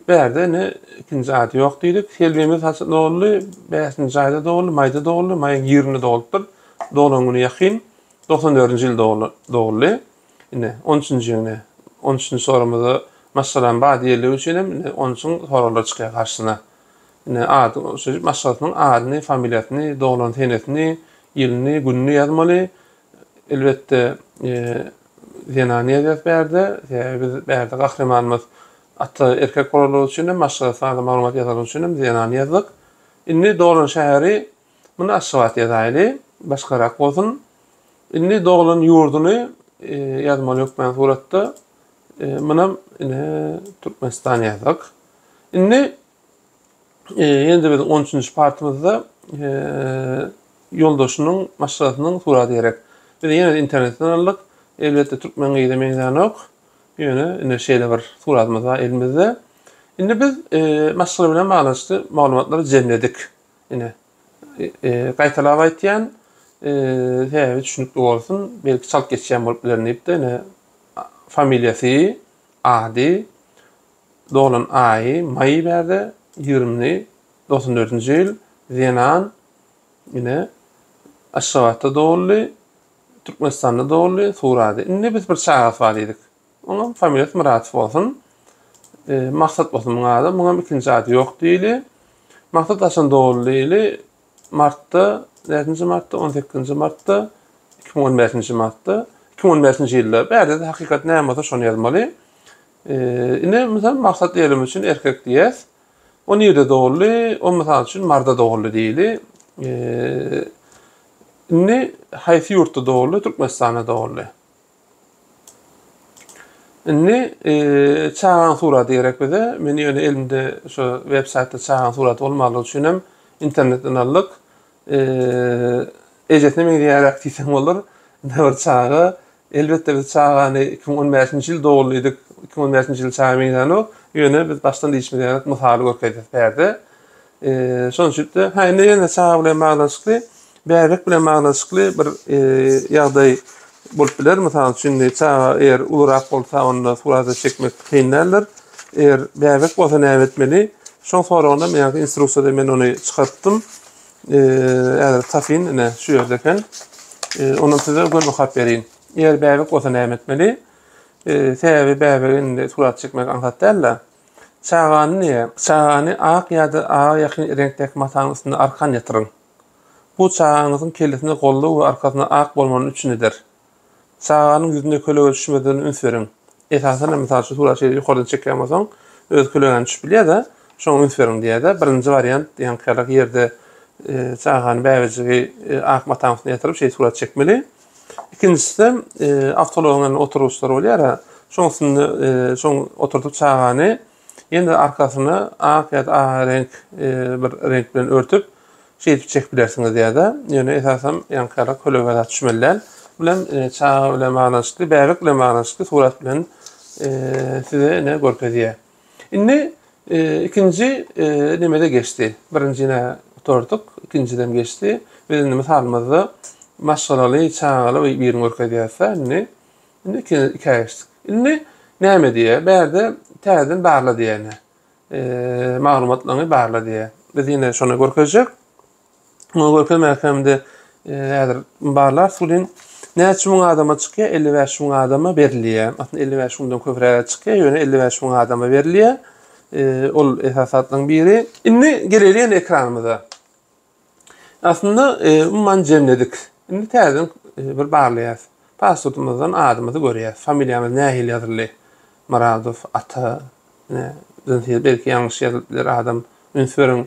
bärde indi ikinji ady ýok diýdik. Selbimiz haçan doguldy? Bäşinji aýda doguldy, maýda doguldy. Maýyň ýigriminde dogulupdyr. Doglan güni ýakyn. Doksan dördünji ýylda doguldy. Indi on üçünji ýöne on üçünji sorumyzda maşgalanyň bar diýerligi üçin hem indi on üçin soraglar çykýar garşysyna. Indi ady şeýdip maşgalasynyň adyny, familiýasyny, doglan senesini, ýylyny, gününi ýazmaly. Elbetde, zenany ýazýas bärde, sebäbi biz bärde gahrymanymyz ata erkek bolanlygy üçin hem maşgalasy barada maglumat ýazanlygy üçin hem zenany ýazdyk. Indi doglan şäheri Muny Aşgabat ýazaýyly, başgarak bolsun. Indi doglan ýurduny ýazmaly hökmän suratda. Munam ine Türkmenistan ýazdyk. Indi ýene-de biziň 13-nji partymyzda ýoldaşynyň maşgalasynyň suraty gerek. Biz ýene-de internetden aldyk. Elbetde türkmen gyza meňzänok. Ýöne ine şeýle bir suratymyz bar elimizde. Indi biz maşgala bilen baglanyşykly maglumatlary jemledik. Ine, gaýtalap aýtýan, sebäbi düşünikli bolsun, belki çalt geçýän bolup bilerin diýipdi. Ine, familiýasy, ady, doglan aýy, maý bärde, ýigrimini, dogsan dördünji ýyl, zenan, ine, Aşgabatda doguldy, Türkmenistanda doguldy, surady. Indi biz bir çagasy bar diýdik. Onuň familiýasy Myradow bolsun. Maksat bolsun muň ady. Muňam ikinji ady ýok diýli. Maksat haçan doguldy diýli. Martda, näçenji martda, on sekizinji martda, iki müň on bäşinji martda, iki müň on bäşinji ýylda. Bärde-de hakykat näme bolsa şony ýazmaly. Indi mysal Maksat diýelim üçin erkek diýýäs. O nirde doguldy? O mysal üçin Marda doguldy diýli. Indi haýsy ýurtda doguldy? Türkmenistanda doguldy. Indi çagaň suraty gerek bize. Men ýöne elimde şu web saýtda çagaň suraty bolmalygy üçin hem internetden aldyk. Ejesine meňzeýäräk diýseň bolar. Ine bir çaga. Elbetde biz çagany 2015-nji ýyl dogullydyk. 2015-nji ýyl çaga meňzänok. Ýöne biz başdan diýişimiz gerek, mysaly görkezýäs bärde. Şonuň üçin-de, ha indi ýene çaga bilen baglanyşykly, bäbek bilen baglanyşykly bir ýagdaý bolup biler. Mysal üçin, indi çaga eger ulurak bolsa, onda surata çekmek kyn däldir. Eger bäbek bolsa näme etmeli? Şoň soragynda men ýaňky instruksiýada men ony çykarypdym. Häzir tapyn, ine şu ýerde eken. Ondan size göz okap berin. Eger bäbek bolsa näme etmeli? Sebäbi bäbegi indi surat çekmek aňsat däl-de. Çagany ne? Çagany ak ýa-da aga ýakyn reňkdäki mataň üstüne arkan ýatyryň. Bu çagaňyzyň kellesine golly we arkasyna ak bolmany üpjün eder. Çaganyň ýüzüne kölege düşmezligine üns beriň. Esasanam, mysal üçin, suraty şeýle ýokardan çekýän bolsaň, özi kölegäni düşüp bilýär-de, şoňa üns beriň diýýär-de. Birinji wariant diýen ýaly ýerde çagany, bäbejigi ak mataň üstüne ýatyryp, şeýle surat çekmeli. Ikinjisi-de, awtoulagyň indi oturgyçlary bolýar-a, şoň üstünde, şoň oturdyp çagany ýene-de arkasyny ak ýa-da aga reňk bir reňk bilen örtüp, şeýdip çekip bilersiňiz ýa-da, ýöne esasan ýaňkyýalar kölege zat düşmeli däl. Bu bilen çaga bilen baglanyşykly, bäbek bilen baglanyşykly surat bilen size ine görkezýär. Indi ikinji nemede geçdi. Birinjine oturduk, ikinjiden geçdi. Biz indi mysalymyzda maşgalaly, çagaly bir birini görkezýäris-de indi. Indi iki, ikä geçdik. Indi näme diýýär? Bärde täzeden barla diýýär ine. Maglumatlaryňy barla diýýär. Biz ýene şony görkezjek. Muňa görkezmek hem-de e, häzir barlar suwlin näçe müň adama çykýar? 55 müň adama berilýär. Aslynda 55 müňden köpräge çykýar, ýöne 55 müň adama berilýär. E, ol esasatlaryň biri. Indi geleýli ýene ekranymyza. Aslynda e, umuman jemledik. Indi täzeden e, bir barlaýas. Pasportymyzdan adymyzy görýäs. Familiýamyz nähili ýazyldy? Myradow ata, Siz belki ýalňyş ýazylyp biler adam. Üns beriň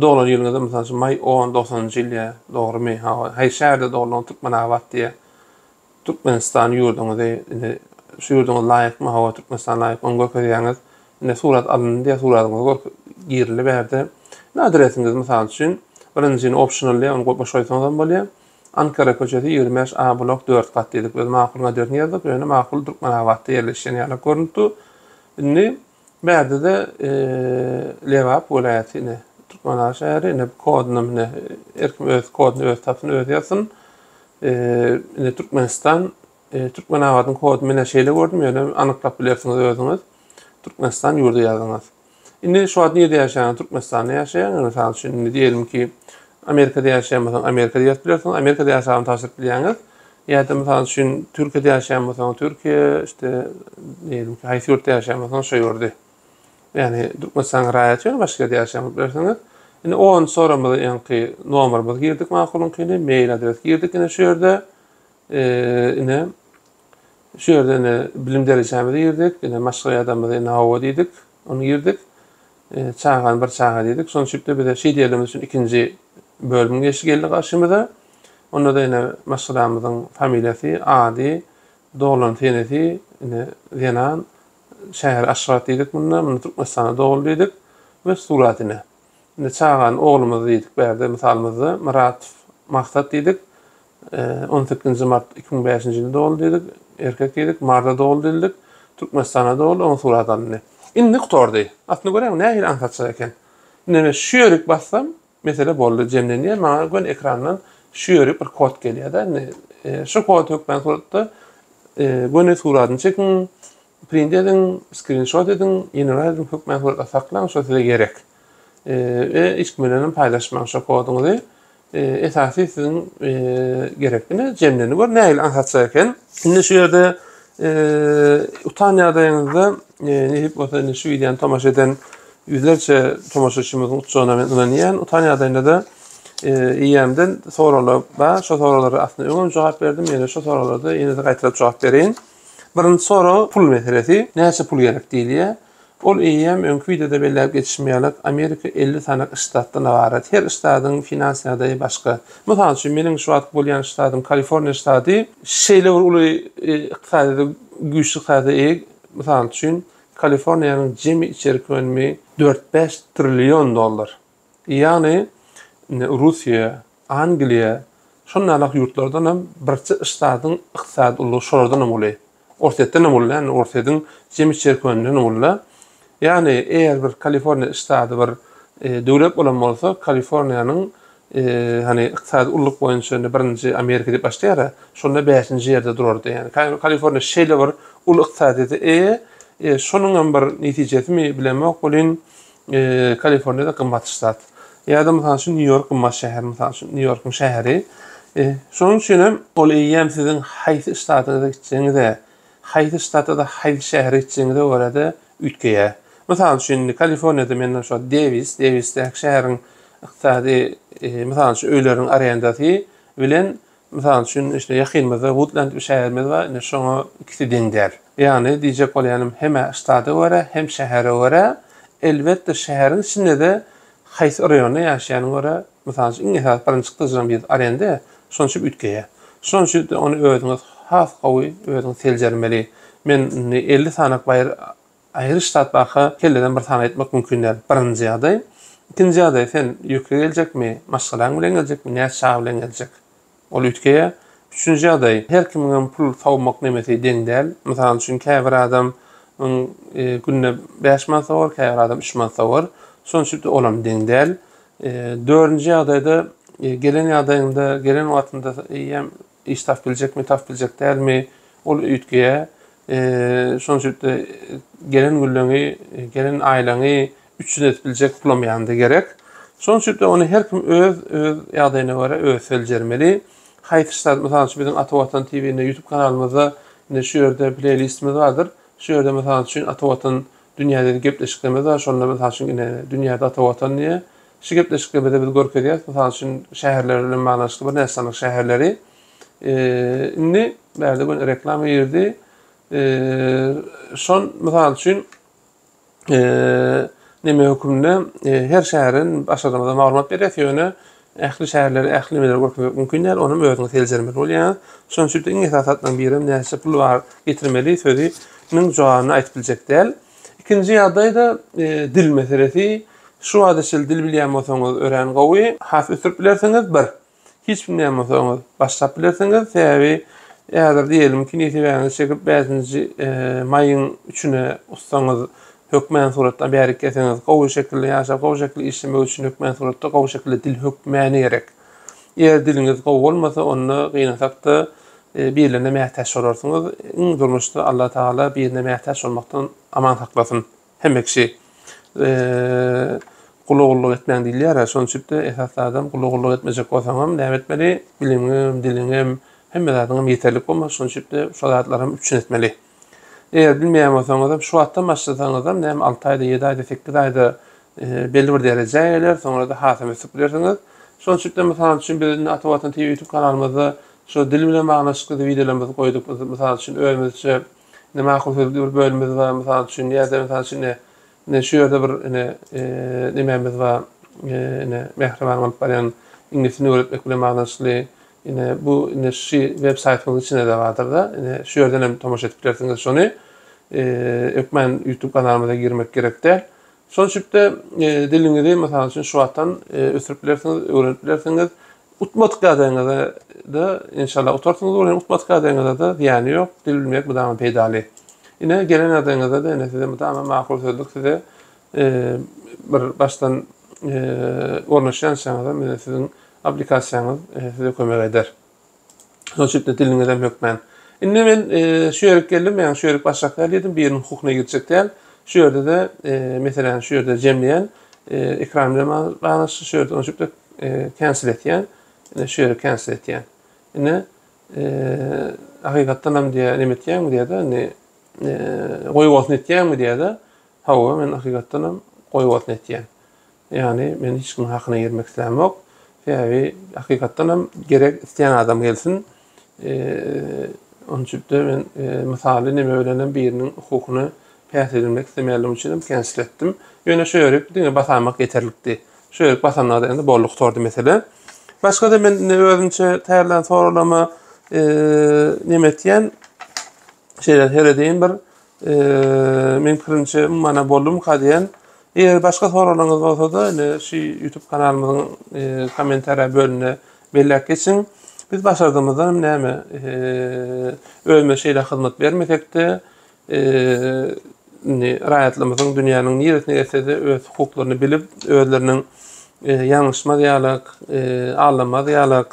doglan ýylyňyza mysal üçin maý on dogsanynjy ýyl ýa dogrymy hawa haýsy şäherde doglan türkmenabat diýýä türkmenistan ýurduňyzy indi şu ýurduňyz laýykmy hawa türkmenistan laýyk ony görkezýäňiz indi surat alyndy diýýä suratyňyzy gör girildi bärde adresiňiz mysal üçin birinjini optional diýýä ony boş goýsaňyzam bolýa Ankara köçesi ýigrimi bäş A blok dört gat diýdik biz makul Naderini ýazdyk ýöne makul Türkmenabatda ýerleşýän ýaly görnüp dur. Indi bärdede Lebap welaýaty ine Türkmenabat şäheri ine bu kodunam ine her kim öz koduny öz tapsyn öz ýazsyn. Ine Türkmenistan Türkmenabadyň koduny men şeýle gördüm ýöne anyklap bilersiňiz özüňiz Türkmenistan ýurdy ýazyňyz. Indi şu wagt nirede ýaşaýaň? Türkmenistanda ýaşaýaň. Indi mysal üçin indi diýelim ki, Amerikada ýaşaýan bolsaň, Amerikada ýazyp bilersiň, Amerikada ýaşagyny tabşyryp bilýäňiz. Ýa-da mysal üçin Türkiýede ýaşaýan bolsaň, Türkiýe, işte, diýelim ki, haýsy ýurtda ýaşaýan bolsaň, şo ýurdy. Ýagny Türkmenistanyň raýaty ýöne başga ýerde ýaşaýan bolup bilersiňiz. Indi onunjy soragymyzy öňki nomerimizi girdik makulyňkyny, mail adres girdik indi şu ýerde. Ine Şu ýerde ine bilim derejämizi girdik, ine maşgala adamymyzy ine hawa diýdik, ony girdik. E, çagany bir çaga diýdik. Şonuň üçin bize şeýt ýerlerimiz üçin ikinji bölüm geçdi geldi garşymyza. Onda da ine maşgalamyzyň familiýasy, ady, doglan senesi, ine zenan, şäheri Aşgabat diýdik munda, munda Türkmenistanda doguldy diýdik we surat ine. Indi çagany oglumyz diýdik bärde mysalymyzda Myratow Maksat diýdik. On sekizinji mart iki müň bäşinji ýylda doguldy diýdik. Erkek diýdik. Marda doguldy diýdik. Türkmenistanda doguldy. Onuň suraty alyndy. Indi gutardy. Aslynda göräýiň nähili aňsatja eken. Indi men şu ýerik bassam mesele boldy jemlenýär maňa göni ekrandan şu ýerik bir kod gelýärde indi şu kod hökmän suratda göni suratyny çekiň Print ediň, skrinşot ediň, ýene-de ediň, hökmany suratda saklaň, şo size gerek. We hiç kim bilen hem paýlaşmaň şo koduňyzy. Esasy siziň gerek. Indi jemleni gör, nähili aňsatja eken. Indi şu ýerde utan ýagdaýyňyzda nädip bolsa indi şu wideony tomaşa eden ýüzlerçe tomaşaçymyzyň utjagyna men ynanýan. Utan ýagdaýynda-da eýýämden soraglar bar. Şo soraglara aslynda öňem jogap berdim, ýene şu soraglarda ýene-de gaýtalap jogap bereýin. Birinji sorag pul meselesi. Näçe pul gerek diýilýär. Ol eýýäm öňki wideoda belläp geçişim ýaly, Amerika elli sany ştatdan ybarat. Her ştadyň finans ýagdaýy başga. Mysal üçin, meniň şu wagt bolýan ştadym Kaliforniýa ştady şeýle bir uly ykdysadyýete, güýçli ykdysadyýete eýe. Mysal üçin, Kaliforniýanyň jemi içerki önümi dört-bäş trillion dollar. Ýagny, indi Russiýa, Angliýa, şonalak ýurtlardan hem birçe ştatyň ykdysady ullugy şolardan hem uly. Orsýetden hem uly, indi Orsýetiň jemi çerkewindenem uly. Ýagny, eger bir Kaliforniýa ştaty bir döwlet bolan bolsa, Kaliforniýanyň, hany, ykdysady ulluk boýunça indi birinji Amerika diýip başlaýar-a, şonda bäşinji ýerde durardy. Ýagny, Kaliforniýa şeýle bir uly ykdysadyýete eýe, şonuň hem bir netijesimi, bilemok welin, Kaliforniýada gymmat ştat. Ýa-da mysal üçin Nýu-Ýork gymmat şäher, mysal üçin Nýu-Ýorkyň şäheri. E, şonuň üçin hem ol eýýäm siziň haýsy ştatyňyza gitjegiňize, haýsy ştata-da haýsy şähere gitjegiňize görä-de üýtgeýär. Mysal üçin, indi Kaliforniýada menden şo Dewis, Dewisdäki şäheriň ykdysady, e, mysal üçin öýleriň arendasy bilen Mysal üçin, işte, ýakynymyzda Woodland diýip şäherimiz bar, indi şoňa ikisi deň däl. Ýagny, diýjek bolýanym, hem-ä ştada görä, hem şähere görä, elbetde, şäheriň içinde-de haýsy raýonda ýaşaýanyna görä, mysal üçin, iň esasy birinji tyjyň biz arenda ýa, şonuň üçin üýtgeýär. Şonuň üçin-de ony özüňiz has gowy özüňiz seljermeli. Men indi elli sanaplaýyr Aýryş zat barka, kelleden bir sany aýtmak mümkin däl. Birinji ýagdaý. Ikinji ýagdaý, sen ýükli geljekmi, maşgalaň bilen geljekmi, näçe çaga bilen geljek? Ol üýtgeýär. Üçünji ýagdaý, her kimiňem pul sowmak nemesi deň däl. Mysal üçin, käbir adam yň günde bäş manat sowar, käbir adam üç manat sowar. Şonuň üçin-de olam deň däl. Dördünji ýagdaýda, gelen ýagdaýyňda, gelen wagtynda eýýäm Iş tap biljekmi, tap biljek dälmi, ol üýtgeýär. Şonuň üçin-de gelen gülleňi, gelen aýlaňy üpjün edip biljek pulam ýanynda gerek. Şonuň üçin-de ony her kim öz öz ýagdaýyna görä özi seljermeli. Haýsy zat, mysal üçin, biziň Ata Watan TV-nde, YouTube kanalymyzda indi şu ýerde pleýlistimiz bardyr. Şu ýerde, mysal üçin, Ata Watan dünýädäki gepleşiklerimiz bar. Şonda, mysal üçin, ine, dünýäde Ata Watan diýip, Şu gepleşiklerimizde biz görkezýäris, mysal üçin, şäherler bilen baglanyşykly birnäçe sanaly şäherleri. Indi bärde göni reklama girdi. Şol, mysal üçin, neme hökmünde her şäheriň başarnamada maglumat berýäris, ýöne ähli şäherleri, ähli nemeleri görkezmek mümkin däl, onuň özüňiz seljermeli bolýaňyz. Şonuň üçin iň esasy zatlaryň birem näçe pul bar, getirmeli sözi niň jogabyny aýdyp biljek däl. Ikinji ýagdaý-da dil meselesi. Şu wagta çenli dil bilýän bolsaňyz örän gowy, has ösdürip bilersiňiz, bir. Hiç bilmeýän bolsaňyz, başlap bilersiňiz, sebäbi häzir diýelim ki, nesibäňizi çekip bäşinji maýyň üçüne ussaňyz hökmän suratda bärik gelseňiz, gowy şekilde ýaşap, gowy şekilde işlemek üçin hökmän suratda gowy şekilde dil hökmäni gerek. Eger diliňiz gowy bolmasa, onda gynansakda birlerine mätäç bolarsyňyz. Iň durmuşda Allatagala birine mätäç bolmakdan aman saklasyn. Hemme kişi gula gulluk etmäň diýilýär-ä, şonuň üçin-de esas zadam gula gulluk etmejek bolsaňam näme etmeli? Biliňem, diliňem, hemme zadyňam ýeterlik bolmaly, şonuň üçin-de şu zatlaram üpjün etmeli. Eger bilmeýän bolsaňyzam, şu wagtdan başlasaňyzam, näme alty aýda, ýedi aýda, sekiz aýda belli bir derejä geler, soňra-da hasam ösüp gidersiňiz. Şonuň üçin-de, mysal üçin, biz indi Ata Watan TV ýutub kanalymyzda şu dil bilen baglanyşykly wideolarymyzy goýduk. Biz, mysal üçin, özümizçe Näme ahal-hüzli bir bölümimiz bar, mysal üçin, ýa-da, mysal üçin, ine, ine şu ýerde bir, ine, nemämiz bar, ine, mähriban bolup barýan iňlis dilini öwretmek bilen baglanyşykly, ine, bu, ine, şu websaýtymyzyň içinde-de bardyr-da, ine, şu ýerden hem tomaşa edip bilersiňiz şony. Hökman YouTube kanalymyza girmek gerek däl. Şol şübde diliňizi mysal üçin şu wagtdan ösdürip bilersiňiz, öwrenip bilersiňiz. Utmadyk ýagdaýyňyzda da inşallah utarsyňyz bolýan, utmadyk ýagdaýyňyzda da zyýany ýok. Dil bilmek mydama peýdaly. Ine gelen ýagdaýyňyzda da ine size mydama makul sözlük size bir başdan ornaşýançaňyzam ine siziň aplikasiýaňyz size kömek eder. Şonuň üçin diliňizem hökmän. Indi men e, şu ýere geldim, men şu ýeri başlap geldim, biriniň hukukyna girjek däl. Şu ýerde-de, e, meselem, şu ýerde jemleýän, e, ekran bilen baglaşyk, şu ýerde onşup da e, cancel etýän. Indi şu ýere cancel etýän. Indi e, hakykatdan hem diýä näme etýäňmi diýä-de, indi e, goýup olsun etýäňmi diýä-de. Hawa, men hakykatdan hem goýup olsun etýän. Ýagny, men hiç kimiň hakyna girmek islämok. Sebäbi, hakykatdan hem gerek isleýän adam gelsin. Onçübde men mysaly neme bilen hem biriniň hukukyny päs edinmek islemänligim üçin hem känşiletdim. Ýöne şu ýörük diňe basamak ýeterlikdi. Şu ýörük basanlary indi boldy gutardy mesele. Başga-da men indi özümçe taýýarlan soraglaryma neme etýän? Şeýle seredeýin bir Eee men pirinçe mana boldum ka diyen. Eger başka soralyňyz bolsa da ine şu YouTube kanalymyzyň eee, kommentariýa bölümine belläp geçiň. Biz başardymyzdan näme eee, özümize şeýle hyzmat bermesekde eee, indi raýatlymyzyň dünýäniň niresine gelsede öz hukuklaryny bilip özleriniň eee, ýalňyşmaz ýalyk eee, aldamaz ýalyk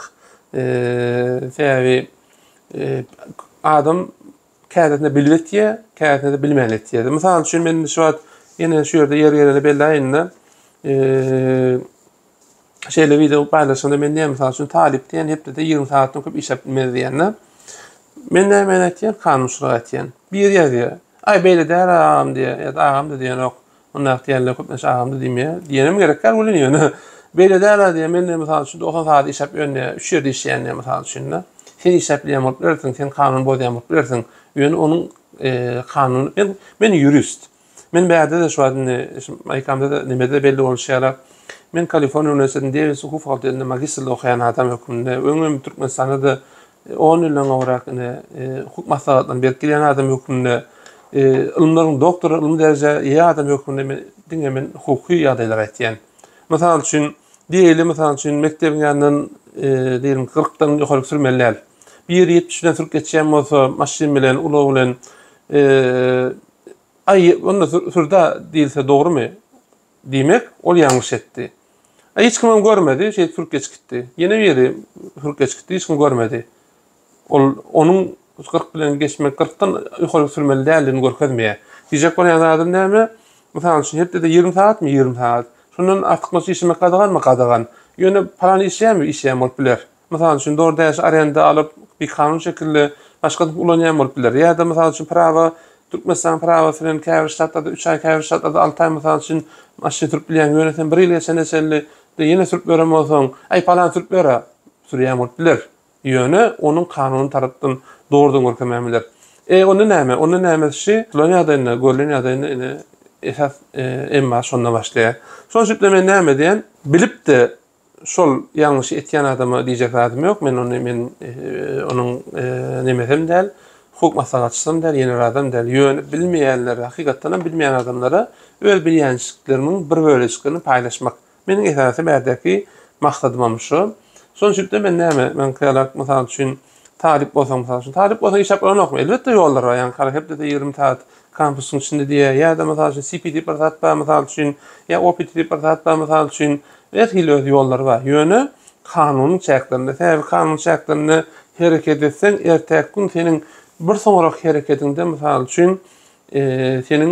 eee, sebäbi eee, adam käsesinde bilip etýär, käsesinde bilmän etýär. Mysal üçin men şu wagt ýene şu ýerde ýer gelende bellaýynda şeýle wideo paýlaşanda men näme mysal üçin talyp diýen hepdede 20 sagatdan köp işläp bilmez diýende men näme aýtýan kanunçylyk aýtýan. Bir ýazýar. Aý beýle däl agam diýýär ýa-da agam da diýenok. Onda ak diýenler köplenç agamda diýmeýär. Diýenem gerek däl welin ýöne beýle däl-ä diýýär. Men-de mysal üçin dogsan sagat işläp ýörün-ä. Üç ýerde işleýän-ä mysal üçin-de. Sen işläp bileýän bolup bilersiň, sen kanun bozýan bolup bilersiň. Ýöne onuň kanun men men ýurist. Men bärde-de şu wagt indi şu maýkamda-da nimede-de belli bolşy ýaly men Kaliforniýa uniwersitetiniň Dewis hukuk fakultetinde magistrde okaýan adam hökmünde öňem Türkmenistanda-da On ýyldan gowrak ine, hukuk maslahatlaryny berip gelýän adam hökmünde, ylymlaryň doktory, ylmy dereje eýe adam hökmünde men diňe men hukuky ýagdaýlary aýtýan. Mysal üçin, diýeli, mysal üçin, mekdebiň ýanyndan diýelim kyrkdan ýokaryk sürmeli däl. Bir ýeri ýetmiş bilen sürüp geçýän bolsa, maşyn bilen, ulag bilen, aý, onda sür-dä diýilse dogrumy? Diýmek, ol ýalňyş etdi. A hiç kimem görmedi, şeýdip sürüp geçip gitdi. Ýene biri sürüp geçip gitdi, hiç kim görmedi. Ol onuň gyrk bilen geçmek, gyrkdan ýokaryk sürmeli däldigini görkezmeýär. Diýjek bolýan zadym näme? Mysal üçin, hepdede ýigrimi sagatmy? Ýigrimi sagat. Şondan artykmaç işlemek gadaganmy? Gadagan. Ýöne palany işleýärmi? Işleýän bolup biler. Mysal üçin, DoorDash arenda alyp, bikanun şekilde başgasynyňky ulanýan bolup biler. Ýa-da, mysal üçin, prawa, Türkmenistanyň prawasy bilen käbir ştatlarda üç aý, käbir ştatlarda alty aý, mysal üçin, maşyn sürüp bilýäň. Ýöne sen bir ýyl geçene çenli de ýene sürüp ýören bolsaň, Aý, palan sürüp ýör-ä! Sürýän bolup biler. Ýöne onuň kanuny tarapdan dogrudan görkemän biler. E, onda näme? Onda nämes şi, tutulan ýagdaýynda, görlen ýagdaýynda, ine, esas emma şonda başlaýar. Şonuň üçin-de men näme edýän? Bilip-de Şol ýalňyş etýän adama diýjek zadym ýok. Men ony men onuň nemesem däl, hukuk maslahatçysam däl, ýenerazam däl. Ýöne bilmeýänlere, hakykatdan hem bilmeýän adamlara öz bilýänçiliklerimiň bir bölejiklerini paýlaşmak. Meniň esasy bärdäki maksadymam şu. Şonçulik-de men näme, men Kýalak, mysal üçin, Talyp bolsaň, mysal üçin, talyp bolsaň işläp bolanokmy? Elbetde ýollar bar. Ýaňky hepdede ýigrimi sagat kampusyň içinde diýýär. Ýa-da, mysal üçin, CP diýip bir zat bar, mysal üçin, ýa OPT diýip bir zat bar, mysal üçin. Her hili öz ýollary bar. Ýöne kanunyň çäklerinde. Sebäbi kanunyň çäklerinde hereket etseň, ertäki gün seniň bir soňrak hereketiňde, mysal üçin, seniň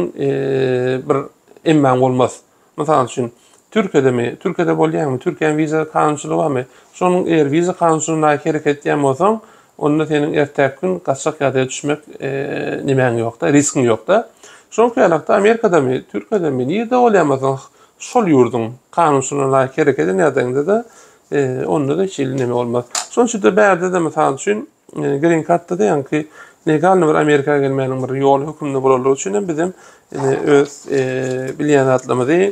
bir emmaň bolmaz. Mysal üçin, Türkiýedemi? Türkiýede bolýaňmy? Türkiýäniň wiza kanunçylygy barmy? Şonuň eger wiza kanunçylygyna laýyk hereket edýän bolsaň, onda seniň ertäki gün gaçjak ýagdaýa düşmek nemäň ýok-da, riskiň ýok-da. Şoňky ýalakda Amerikadamy, Türkiýedemi, nirde bolýan bolsaň, şol ýurduň kanunçylygyna laýyk hereket eden ýagdaýyňda-da, onda-da hiç hili neme bolmaz. Şonuň üçin-de bärde-de, mysal üçin, Yani green kartda da yani ki legalny bir Amerika gelmenin bir yol hükümde bolanlar üçin hem bizem yani öz e, bilýän zatlarymyzy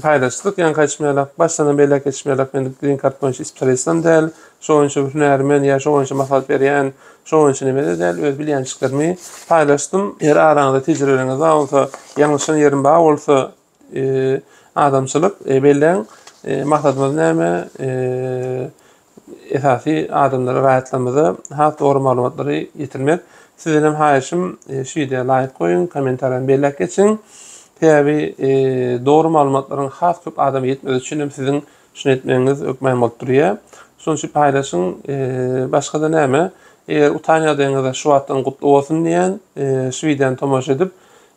paylaşdyk. Yani kaçmaýarlar. Başdan belek geçmeýärler. Men green kart boýunça spesialistim däl. Şu boýunça hünärmen ya şu boýunça maslahat berýän, şu boýunça neme de däl. Öz bilýänçiklerimi paylaşdym. Eger araňyzda tejribeleriňiz bar bolsa, ýalňyşan ýerim bar bolsa, Adamçylyk belleň maksadymyz näme? Esasy adamlara raýatlarymyza has dogry maglumatlary ýetirmek. Sizden hem haýyşym şu wideo laýk goýuň, kommentariýam belläp geçiň. Sebäbi dogry maglumatlaryň has köp adama ýetmegi üçin hem siziň şuny etmegiňiz hökman bolup durýar. Şonuň üçin paýlaşyň. Başga-da näme? Eger utan ýagdaýyňyzda şu wagtdan gutly bolsun diýýän. Şu wideony tomaşa edip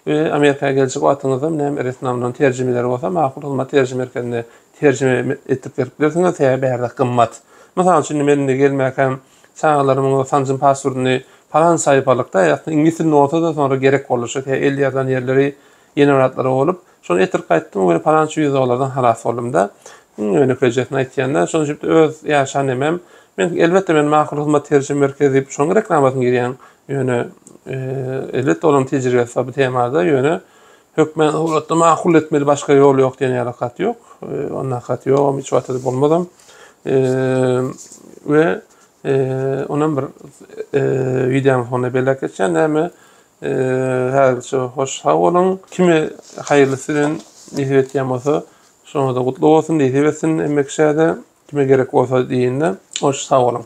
We Amerika geljek wagtyňyzda näme resminamdan terjimeleri bolsa Makul hyzmat terjime merkezinde terjime etdirip berip bilersiňiz sebäbi bärde gymmat. Mysal üçin men indi gelmäkäm çagalarymyň sanjym pasportyny palan saýpalykda aslynda iňlis dilinde bolsada soňra gerek boldy şo sebäbi el ýazylan ýerleri ýenebaratlary bolup şony etirip gaýtdym we palança ýüz dollardan halas boldumda iň ýönekeýjesini aýtýanda şonuň üçin öýt ýaşan nemem men elbetde men Makul hyzmat terjime merkezi diýip şonuň reklamasyny girýän Ýöne elbetde olaryň tejribesi bar bu temada, ýöne hökmän döwletde makul etmeli başga ýol ýok diýen ýaly hat ýok. Onda hat ýogam, hiç wagt edip bolmazam. We onam bir wideonyň sonuna belläp geçýän näme häzirçe hoş sag boluň. Kime haýyrlysy bilen nesip etýän bolsa, şoňa-da gutly bolsun, nesip etsin hemme kişä-de. Kime gerek bolsa diýinde hoş sag boluň.